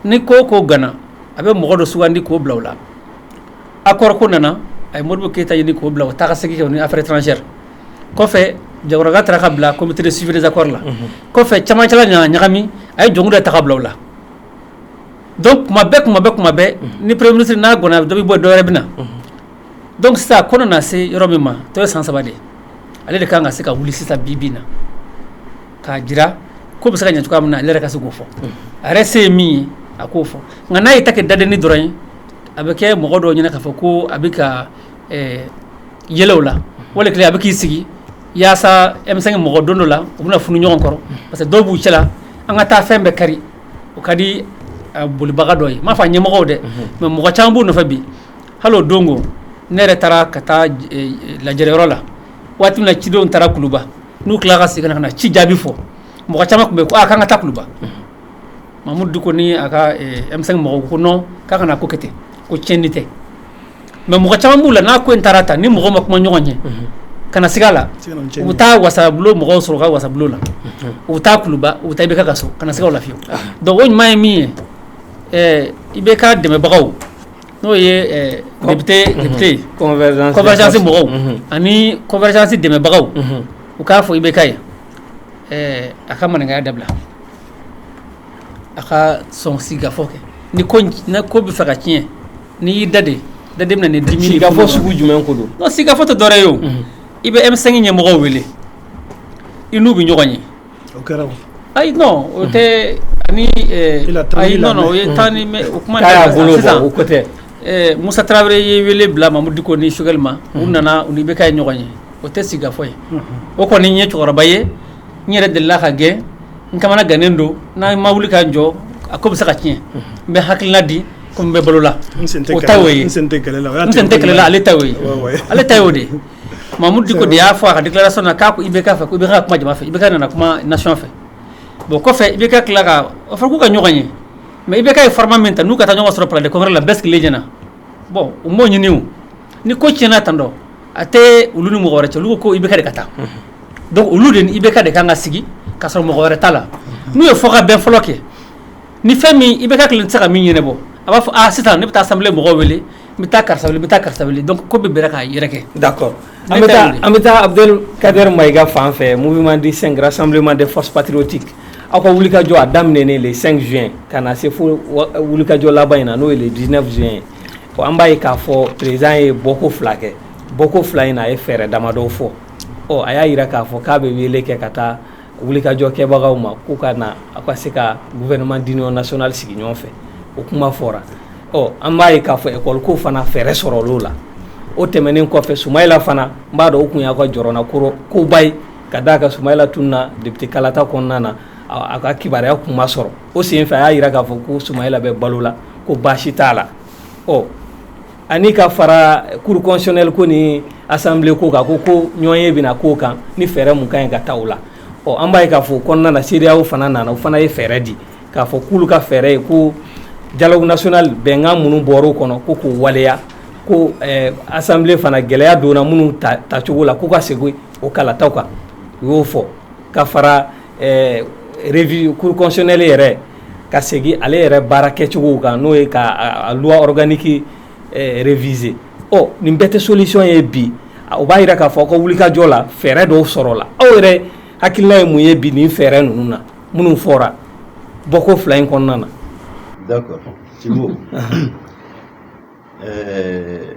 ni ko ko ganna a bɛ mɔgɔ dɔ sugandi k'o bila o la accord ko nana a ye Modibo Keyita ɲini k'o bila o taa ka segin kɛ ni affaire étrangère kɔfɛ Jaguraga taara ka bila comité de suivi des accords la kɔfɛ camancɛla nana ɲagami a ye Jɔnkunda ta ka bila o la donc kuma bɛɛ kuma bɛ kuma bɛɛ ni premier ministre n'a ganna dɔ bɛ bɔ dɔwɛrɛ bɛ na donc sisan ko nana se yɔrɔ min ma tɔ ye san saba de ye ale de kan ka se ka wuli sisan bi bi in na k'a jira ko bɛ se ka ɲɛ cogoya min na ale yɛrɛ ka se k'o fɔ a yɛrɛ se ye min ye a k'o fɔ nka n'a ye ta kɛ dadenni dɔrɔn ye a bɛ kɛ mɔgɔ dɔw ɲɛna k'a fɔ ko a bɛ ka yɛlɛ u la wali kelen a bɛ k'i sigi yaasa M5 mɔgɔ don dɔ la u bɛna funu ɲɔgɔn kɔrɔ parce que dɔw b'u cɛla an ka taa fɛn bɛɛ kari o ka di bolibaga dɔ ye n m'a fɔ a ɲɛmɔgɔw dɛ mais mɔgɔ caman b'u nɔfɛ bi hali don ko ne yɛrɛ taara ka taa lajɛyɔrɔ la waati min na cidenw taara kuluba n'u tila ka segin ka na ci jaabi fɔ mɔgɔ caman tun bɛ ko k'an ka taa kuluba Mahmoud Dicko ni a ka M5 mɔgɔw ko non k'an kana ko kɛ ten ko tiɲɛni tɛ mais mɔgɔ caman b'u la n'a ko in taara tan ni mɔgɔ ma kumaɲɔgɔnya kana siga a la u bɛ taa wasabulon mɔgɔw sɔrɔ ka wasabulon la u bɛ taa kuluba u bɛ taa IBK ka so kana siga a la fiyewu donc o ɲuman ye min ye IBK dɛmɛbagaw N'o ye député convergence mɔgɔw ani convergence dɛmɛbagaw u k'a fɔ IBK ye a ka maninkaya dabila a ka sɔn sigikafɔ kɛ ni ko bɛ fɛ ka tiɲɛ ni y'i da de da de dimi sigikafɔ sugu jumɛn ko don non sigikafɔ tɛ dɔwɛrɛ ye i bɛ M5 ɲɛmɔgɔw wele i n'u bɛ ɲɔgɔn ye O kɛra ayi non o tɛ ni o ye tan ni o kuma tɛ Musa Tarawele ye wele bila Mamudu Diko ni Choguel ma u nana u ni IBK ye ɲɔgɔn ye o tɛ sigikafɔ ye o kɔni ye cɛkɔrɔba ye n yɛrɛ delila ka gɛn n kamana gannen don n'a ma wuli ka jɔ a ko bɛ se ka tiɲɛ n bɛ hakilina di comme n bɛ balo la o ta y'o ye n sen tɛ kɛlɛ la ale ta y'o ye ale ta o de Mamudu Diko de y'a fɔ a ka déclaration na k'a ko IBK fɛ ko IBK ka kuma jama fɛ IBK nana kuma nation fɛ bon kɔfɛ IBK tilala ka a fɔra k'u ka ɲɔgɔn ye mais IBK ye format min ta n'u ka taa ɲɔgɔn sɔrɔ palais de congrès la bɛɛ sigilen ɲɛna bon u m'o ɲini o ni ko tiɲɛna tantɔ a tɛ olu ni mɔgɔ wɛrɛ cɛ olu ko ko IBK de ka taa donc olu de ni IBK de kan ka sigi ka sɔrɔ mɔgɔ wɛrɛ t'a la n'u ye fɔ ka bɛn fɔlɔ kɛ ni fɛn min IBK kelen tɛ se ka min ɲɛnabɔ a b'a fɔ a sisan ne bɛ taa assemblée mɔgɔw wele n bɛ taa karisa wele n bɛ taa karisa wele donc ko bɛɛ bira k'a yɛrɛ kɛ d'accord an bɛ taa an bɛ taa Abdel Kader Maïga fan fɛ mouvement du 5 rassemblement des forces patriotiques aw ka wulikajɔ a daminɛnen le 5 juin ka na se fo wulikajɔ laban in na n'o ye le 19 juin ye bon an b'a ye k'a fɔ président ye bɔko fila kɛ bɔko fila in na a ye fɛɛrɛ damadɔw fɔ ɔ a y'a jira k'a fɔ k'a bɛ wele kɛ ka taa wulikajɔ kɛbagaw ma k'u ka na aw ka se ka gouvernement d'union nationale sigi ɲɔgɔn fɛ o kuma fɔra ɔ an b'a ye k'a fɔ ekɔli ko fana fɛɛrɛ sɔrɔla o la o tɛmɛnen kɔfɛ Sumayla fana n b'a dɔn o tun y'a ka jɔrɔnakoba ye ka d'a kan Sumayla tununna député kalata kɔnɔna na a ka kibaruya tun ma sɔrɔ o senfɛ a y'a jira k'a fɔ ko Sumayla bɛ balo la ko baasi t'a la ɔ ani ka fara cour constitutionnelle ko ni assemblée ko kan ko ko ɲɔgɔnye bɛna k'o kan ni fɛɛrɛ mun ka ɲi ka ta o la ɔ an b'a ye k'a fɔ kɔnɔna na CEDEAO fana nana o fana ye fɛɛrɛ di k'a fɔ k'olu ka fɛɛrɛ ye ko dialogue national bɛnkan minnu bɔra o kɔnɔ ko k'u waleya ko assemblée fana gɛlɛya donna minnu tacogo la k'u ka segin o kalataw kan u y'o fɔ ka fara ɛɛ revue cour constitutionnelle yɛrɛ ka segin ale yɛrɛ baara kɛcogow kan n'o ye ka loi organique réviser ɔ nin bɛɛ tɛ solution ye bi o b'a jira k'a fɔ ko wulikajɔ la fɛɛrɛ dɔw sɔrɔla aw yɛrɛ hakilina ye mun ye bi nin fɛɛrɛ ninnu na minnu fɔra bɔko fila in kɔnɔna na. d'accord Sibo ɛɛ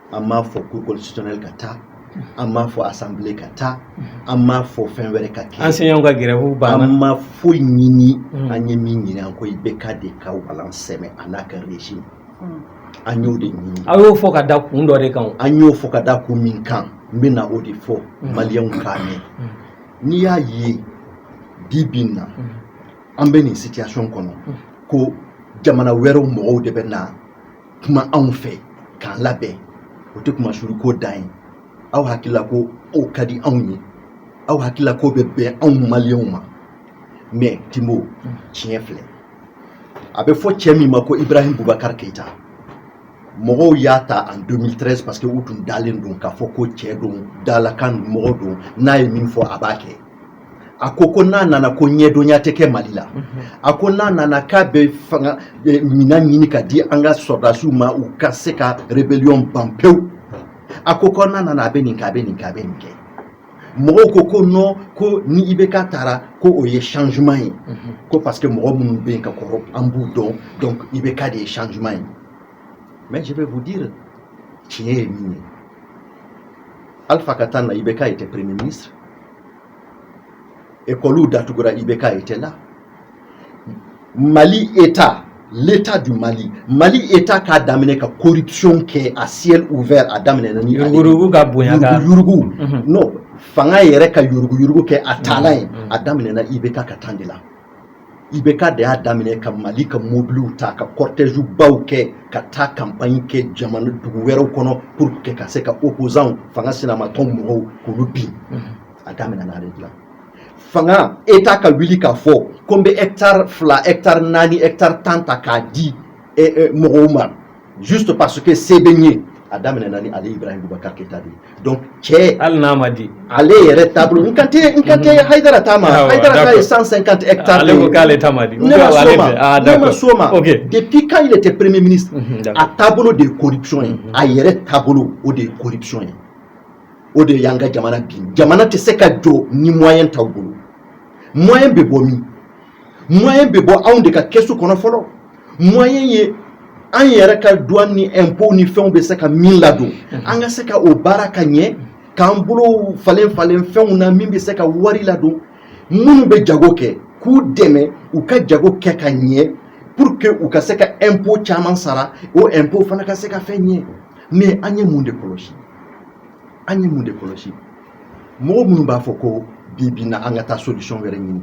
an m'a fɔ cour constitutionnelle ka taa an m'a fɔ assemblée ka taa an m'a fɔ fɛn wɛrɛ ka kɛ enseignants ka grève banna an ma foyi ɲini an ye min ɲini an ko IBK de ka walan sɛmɛ a n'a ka régime an y'o de ɲini an y'o fɔ ka da kun dɔ de kan o. an y'o fɔ ka da kun min kan n bɛ na o de fɔ maliyɛnw k'a mɛn n'i y'a ye bi bi in na an bɛ nin situation kɔnɔ ko jamana wɛrɛw mɔgɔw de bɛ na kuma anw fɛ k'an labɛn o tɛ kunmasuuli ko dan ye aw hakilila ko o ka di anw ye aw hakilila k'o bɛ bɛn anw maliyɛnw ma mais timo tiɲɛ filɛ a bɛ fɔ cɛ min ma ko ibrahim bubakar keyita mɔgɔw y'a ta en 2013 parce que u tun dalen don k'a fɔ ko cɛ don dalakan mɔgɔ don n'a ye min fɔ a b'a kɛ a ko ko n'a nana ko ɲɛdɔnya tɛ kɛ mali la a ko n'a nana k'a bɛ fanga minɛn ɲini ka di an ka sɔrɔdasiw ma u ka se ka rébellion ban pewu a ko ko n'a nana a bɛ nin kɛ a bɛ nin kɛ a bɛ nin kɛ mɔgɔw ko ko non ko ni IBK tara ko o ye changement ye ko parce que mɔgɔ minnu bɛ yen ka kɔrɔ an b'u dɔn donc IBK de ye changement ye mais je vais vous dire tiɲɛ ye min ye alpha ka temps na IBK était premier ministre ekɔliw datugura IBK était là mali état l'état du mali mali état k'a daminɛ ka corruption kɛ à ciel ouvert a daminɛna ni yurugu ka bonya ka yurugu mhm. non fanga yɛrɛ ka yurugu yurugu kɛ a taalan ye mhm. a daminɛna IBK ka temps de la IBK de y'a daminɛ ka mali ka mobiliw ta ka cortège baw kɛ ka taa campagne kɛ jamana dugu wɛrɛw kɔnɔ pour que ka se ka opposants fanga sinamatɔn mɔgɔw k'olu bin a daminɛna ale de la fanga état ka wuli k'a fɔ ko n bɛ hectare fila hectare naani hectare tan ta k'a di mɔgɔw ma juste parce que se bɛ n ye a daminɛna ni ale ibrahim bubakar keyita de ye donc cɛ hali n'a ma di ale yɛrɛ taabolo n kan tɛ n kan tɛ hayidara ta ma Awɔ, hayidara ta d'accord. ye 150 hectares ale de ko ye. k'ale ta ma di ne ma s'o ma ah ne ma d'accord s'o ma ok depuis quand il était premier ministre Mhm, d'accord. a taabolo de ye corruption ye a yɛrɛ taabolo o de ye corruption ye o de y'an ka jamana bin jamana tɛ se ka jɔ ni moyen t'aw bolo moyen bɛ bɔ min moyen bɛ bɔ anw de ka kɛsu kɔnɔ fɔlɔ moyen ye an yɛrɛ ka douane ni impôt ni fɛnw bɛ se ka min ladon an ka se ka o baara ka ɲɛ k'an bolow falen falen fɛnw na min bɛ se ka wari ladon minnu bɛ jago kɛ k'u dɛmɛ u ka jago kɛ ka ɲɛ pour que u ka se ka impôt caman sara o impôt fana ka se ka fɛn ɲɛ mais an ye mun de kɔlɔsi an ye mun de kɔlɔsi mɔgɔ minnu b'a fɔ ko bi bi na an ka taa solution wɛrɛ ɲini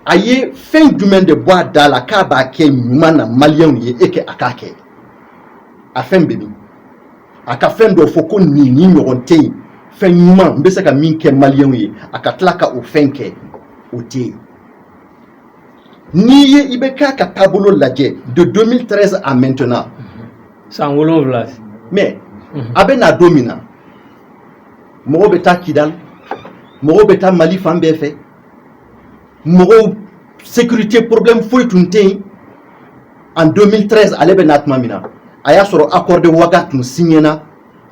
a ye fɛn jumɛn de bɔ a da la k'a b'a kɛ ɲuman na maliyɛnw ye e kɛ a k'a kɛ a fɛn bɛ min a ka fɛn dɔ fɔ ko nin ni ɲɔgɔn tɛ yen fɛn ɲuman n bɛ se ka min kɛ maliyɛnw ye a ka tila ka o fɛn kɛ o tɛ yen n'i ye IBK ka taabolo lajɛ de 2013 à maintenant san wolonwula mais a bɛ na don min na mɔgɔw bɛ taa kidali mɔgɔw bɛ taa mali fan bɛɛ fɛ mɔgɔw sécurité problème foyi tun tɛ yen en 2013 ale bɛ na tuma min na a y'a sɔrɔ accord de ouaga tun signéna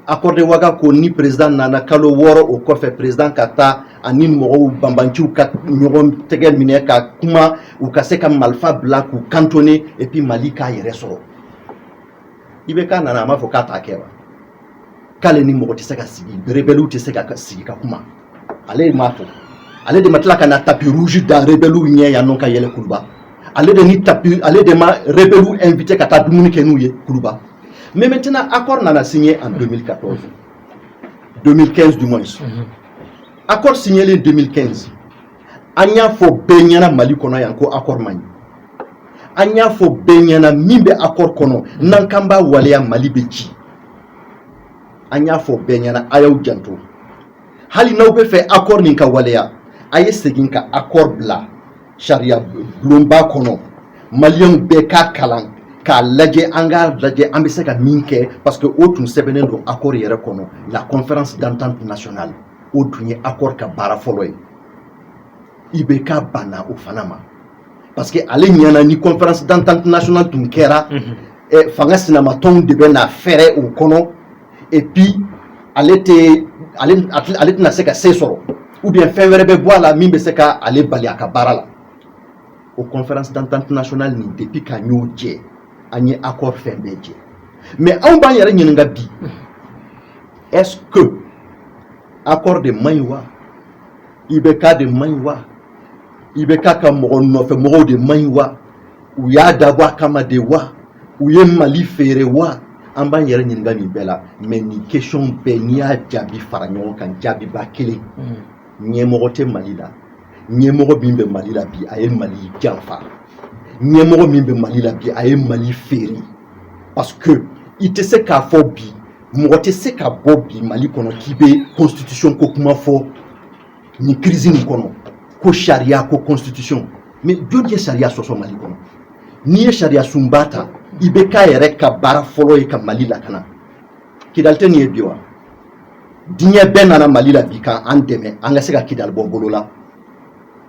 accord de ouaga ko ni président nana kalo wɔɔrɔ o kɔfɛ président ka taa ani mɔgɔw banbanciw ka ɲɔgɔn tɛgɛ minɛ ka kuma u ka se ka malifa bila k'u cantonner et puis mali k'a yɛrɛ sɔrɔ IBK nana a m'a fɔ k'a t'a kɛ wa k'ale ni mɔgɔ tɛ se ka sigi rebɛliw tɛ se ka sigi ka kuma ale m'a fɔ ale de ma tila ka na tapis rouge da rebɛliw ɲɛ yan nɔ ka yɛlɛ kuluba ale de ni tapis ale de ma rebɛliw invité ka taa dumuni kɛ n'u ye kuluba mais maintenant accord nana signé en 2014 2015 du moins accord signé en 2015 an y'a fɔ bɛɛ ɲɛna mali kɔnɔ yan ko accord man ɲi an y'a fɔ bɛɛ ɲɛna min bɛ accord kɔnɔ n'an k'an b'a waleya mali bɛ ci an y'a fɔ bɛɛ ɲɛna a y'aw janto hali n'aw bɛ fɛ accord nin ka waleya a ye segin ka accord bila sariya bulonba kɔnɔ maliyɛnw bɛɛ k'a kalan k'a lajɛ an k'a lajɛ an bɛ se ka min kɛ parce que o tun sɛbɛnnen don accord yɛrɛ kɔnɔ la conférence d'entente nationale o tun ye accord ka baara fɔlɔ ye IBK banna o fana ma parce que ale ɲɛna ni conférence d'entente nationale tun kɛra mhm. eh, fanga sinamatɔnw de bɛ na fɛrɛ o kɔnɔ et puis ale tɛ ale ale tɛna se ka se sɔrɔ ou bien fɛn wɛrɛ bɛ bɔ a la min bɛ se ka ale bali a ka baara la o conférence d'entente nationale nin depuis k'an y'o jɛ an ye accord fɛn bɛɛ jɛ mais anw b'an yɛrɛ ɲininka bi est-ce que accord de man ɲi wa IBK de man ɲi wa IBK ka mɔgɔ nɔfɛ mɔgɔw de man ɲi wa u y'a dabɔ a kama de wa u ye mali feere wa an b'an yɛrɛ ɲininka nin bɛɛ la mais nin question bɛɛ n'i y'a jaabi fara ɲɔgɔn kan jaabiba kelen ɲɛmɔgɔ tɛ mali la ɲɛmɔgɔ min bɛ mali la bi a ye mali janfa ɲɛmɔgɔ min bɛ mali la bi a ye mali feere parce que i tɛ se k'a fɔ bi mɔgɔ tɛ se ka bɔ bi mali kɔnɔ k'i bɛ constitution ko kuma fɔ nin crise nin kɔnɔ ko sariya ko constitution mais jɔn ye sariya sɔsɔ mali kɔnɔ n'i ye sariya sunba ta IBK yɛrɛ ka baara fɔlɔ ye ka mali lakana kidali tɛ nin ye bi wa diɲɛ bɛɛ nana mali la bi ka an dɛmɛ an ka se ka Kidal bɔ bolo la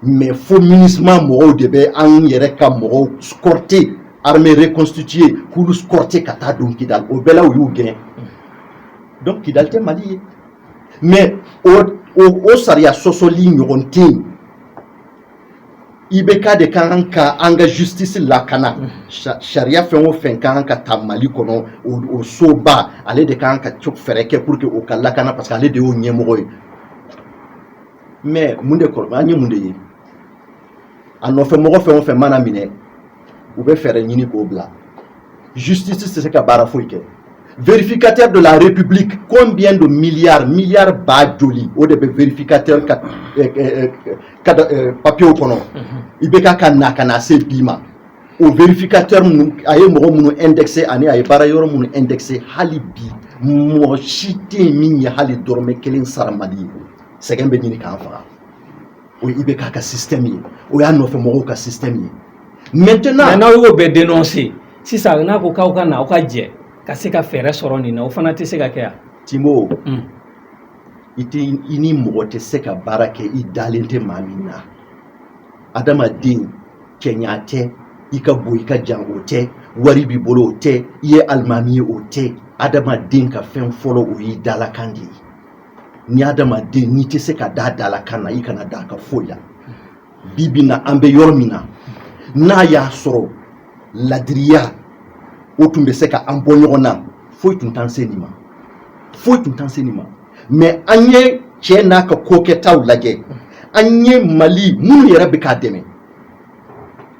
mais fo MINUSMA mɔgɔw de bɛ an yɛrɛ ka mɔgɔw escorter armée reconstituée k'olu escorter ka taa don Kidal o bɛɛ la u y'u gɛn donc Kidal tɛ mali ye mais o, o, o sariya sɔsɔli ɲɔgɔn tɛ yen IBK de ka kan ka an ka justice lakana sariya fɛn o fɛn ka kan ka ta Mali kɔnɔ o soba ale de ka kan ka fɛɛrɛ kɛ pour que o ka lakana parce que ale de y'o ɲɛmɔgɔ ye mais mun de kɔrɔ an ye mun de ye a nɔfɛ mɔgɔ fɛn o fɛn mana minɛ u bɛ fɛɛrɛ ɲini k'o bila justice tɛ se ka baara foyi kɛ vérificateur de la république combien de milliards milliards ba joli o de bɛ vérificateur ka eh, eh, eh, ka papier kɔnɔ mhm. IBK ka na ka na se bi ma o vérificateur minnu a ye mɔgɔ minnu indexé ani a ye baara yɔrɔ minnu indexé hali bi mɔgɔ si tɛ yen min ye hali dɔrɔmɛ kelen sara mali ye sɛgɛn bɛ ɲini k'an faga o ye IBK ka système ye o y'a nɔfɛ mɔgɔw ka système ye maintenant n'aw y'o bɛɛ dénoncer sisan n'a ko k'aw ka na aw ka jɛ ka se ka fɛɛrɛ sɔrɔ nin na o fana tɛ se ka kɛ yan Timo mm. i tɛ i ni mɔgɔ tɛ se ka baara kɛ i dalen tɛ maa min na adamaden cɛɲa tɛ i ka bon i ka jan o tɛ wari b'i bolo o tɛ i ye alimami ye o tɛ adamaden ka fɛn fɔlɔ o y'i dalakan de ye ni adamaden n'i tɛ se ka da dalakan na i kana da ka foyi la bi bi na an bɛ yɔrɔ min na n'a y'a sɔrɔ ladiriya o tun bɛ se ka an bɔ ɲɔgɔn na foyi tun t'an se nin ma foyi tun t'an se nin ma mais an ye cɛ n'a ka kokɛtaw lajɛ an ye mali minnu yɛrɛ bɛ k'a dɛmɛ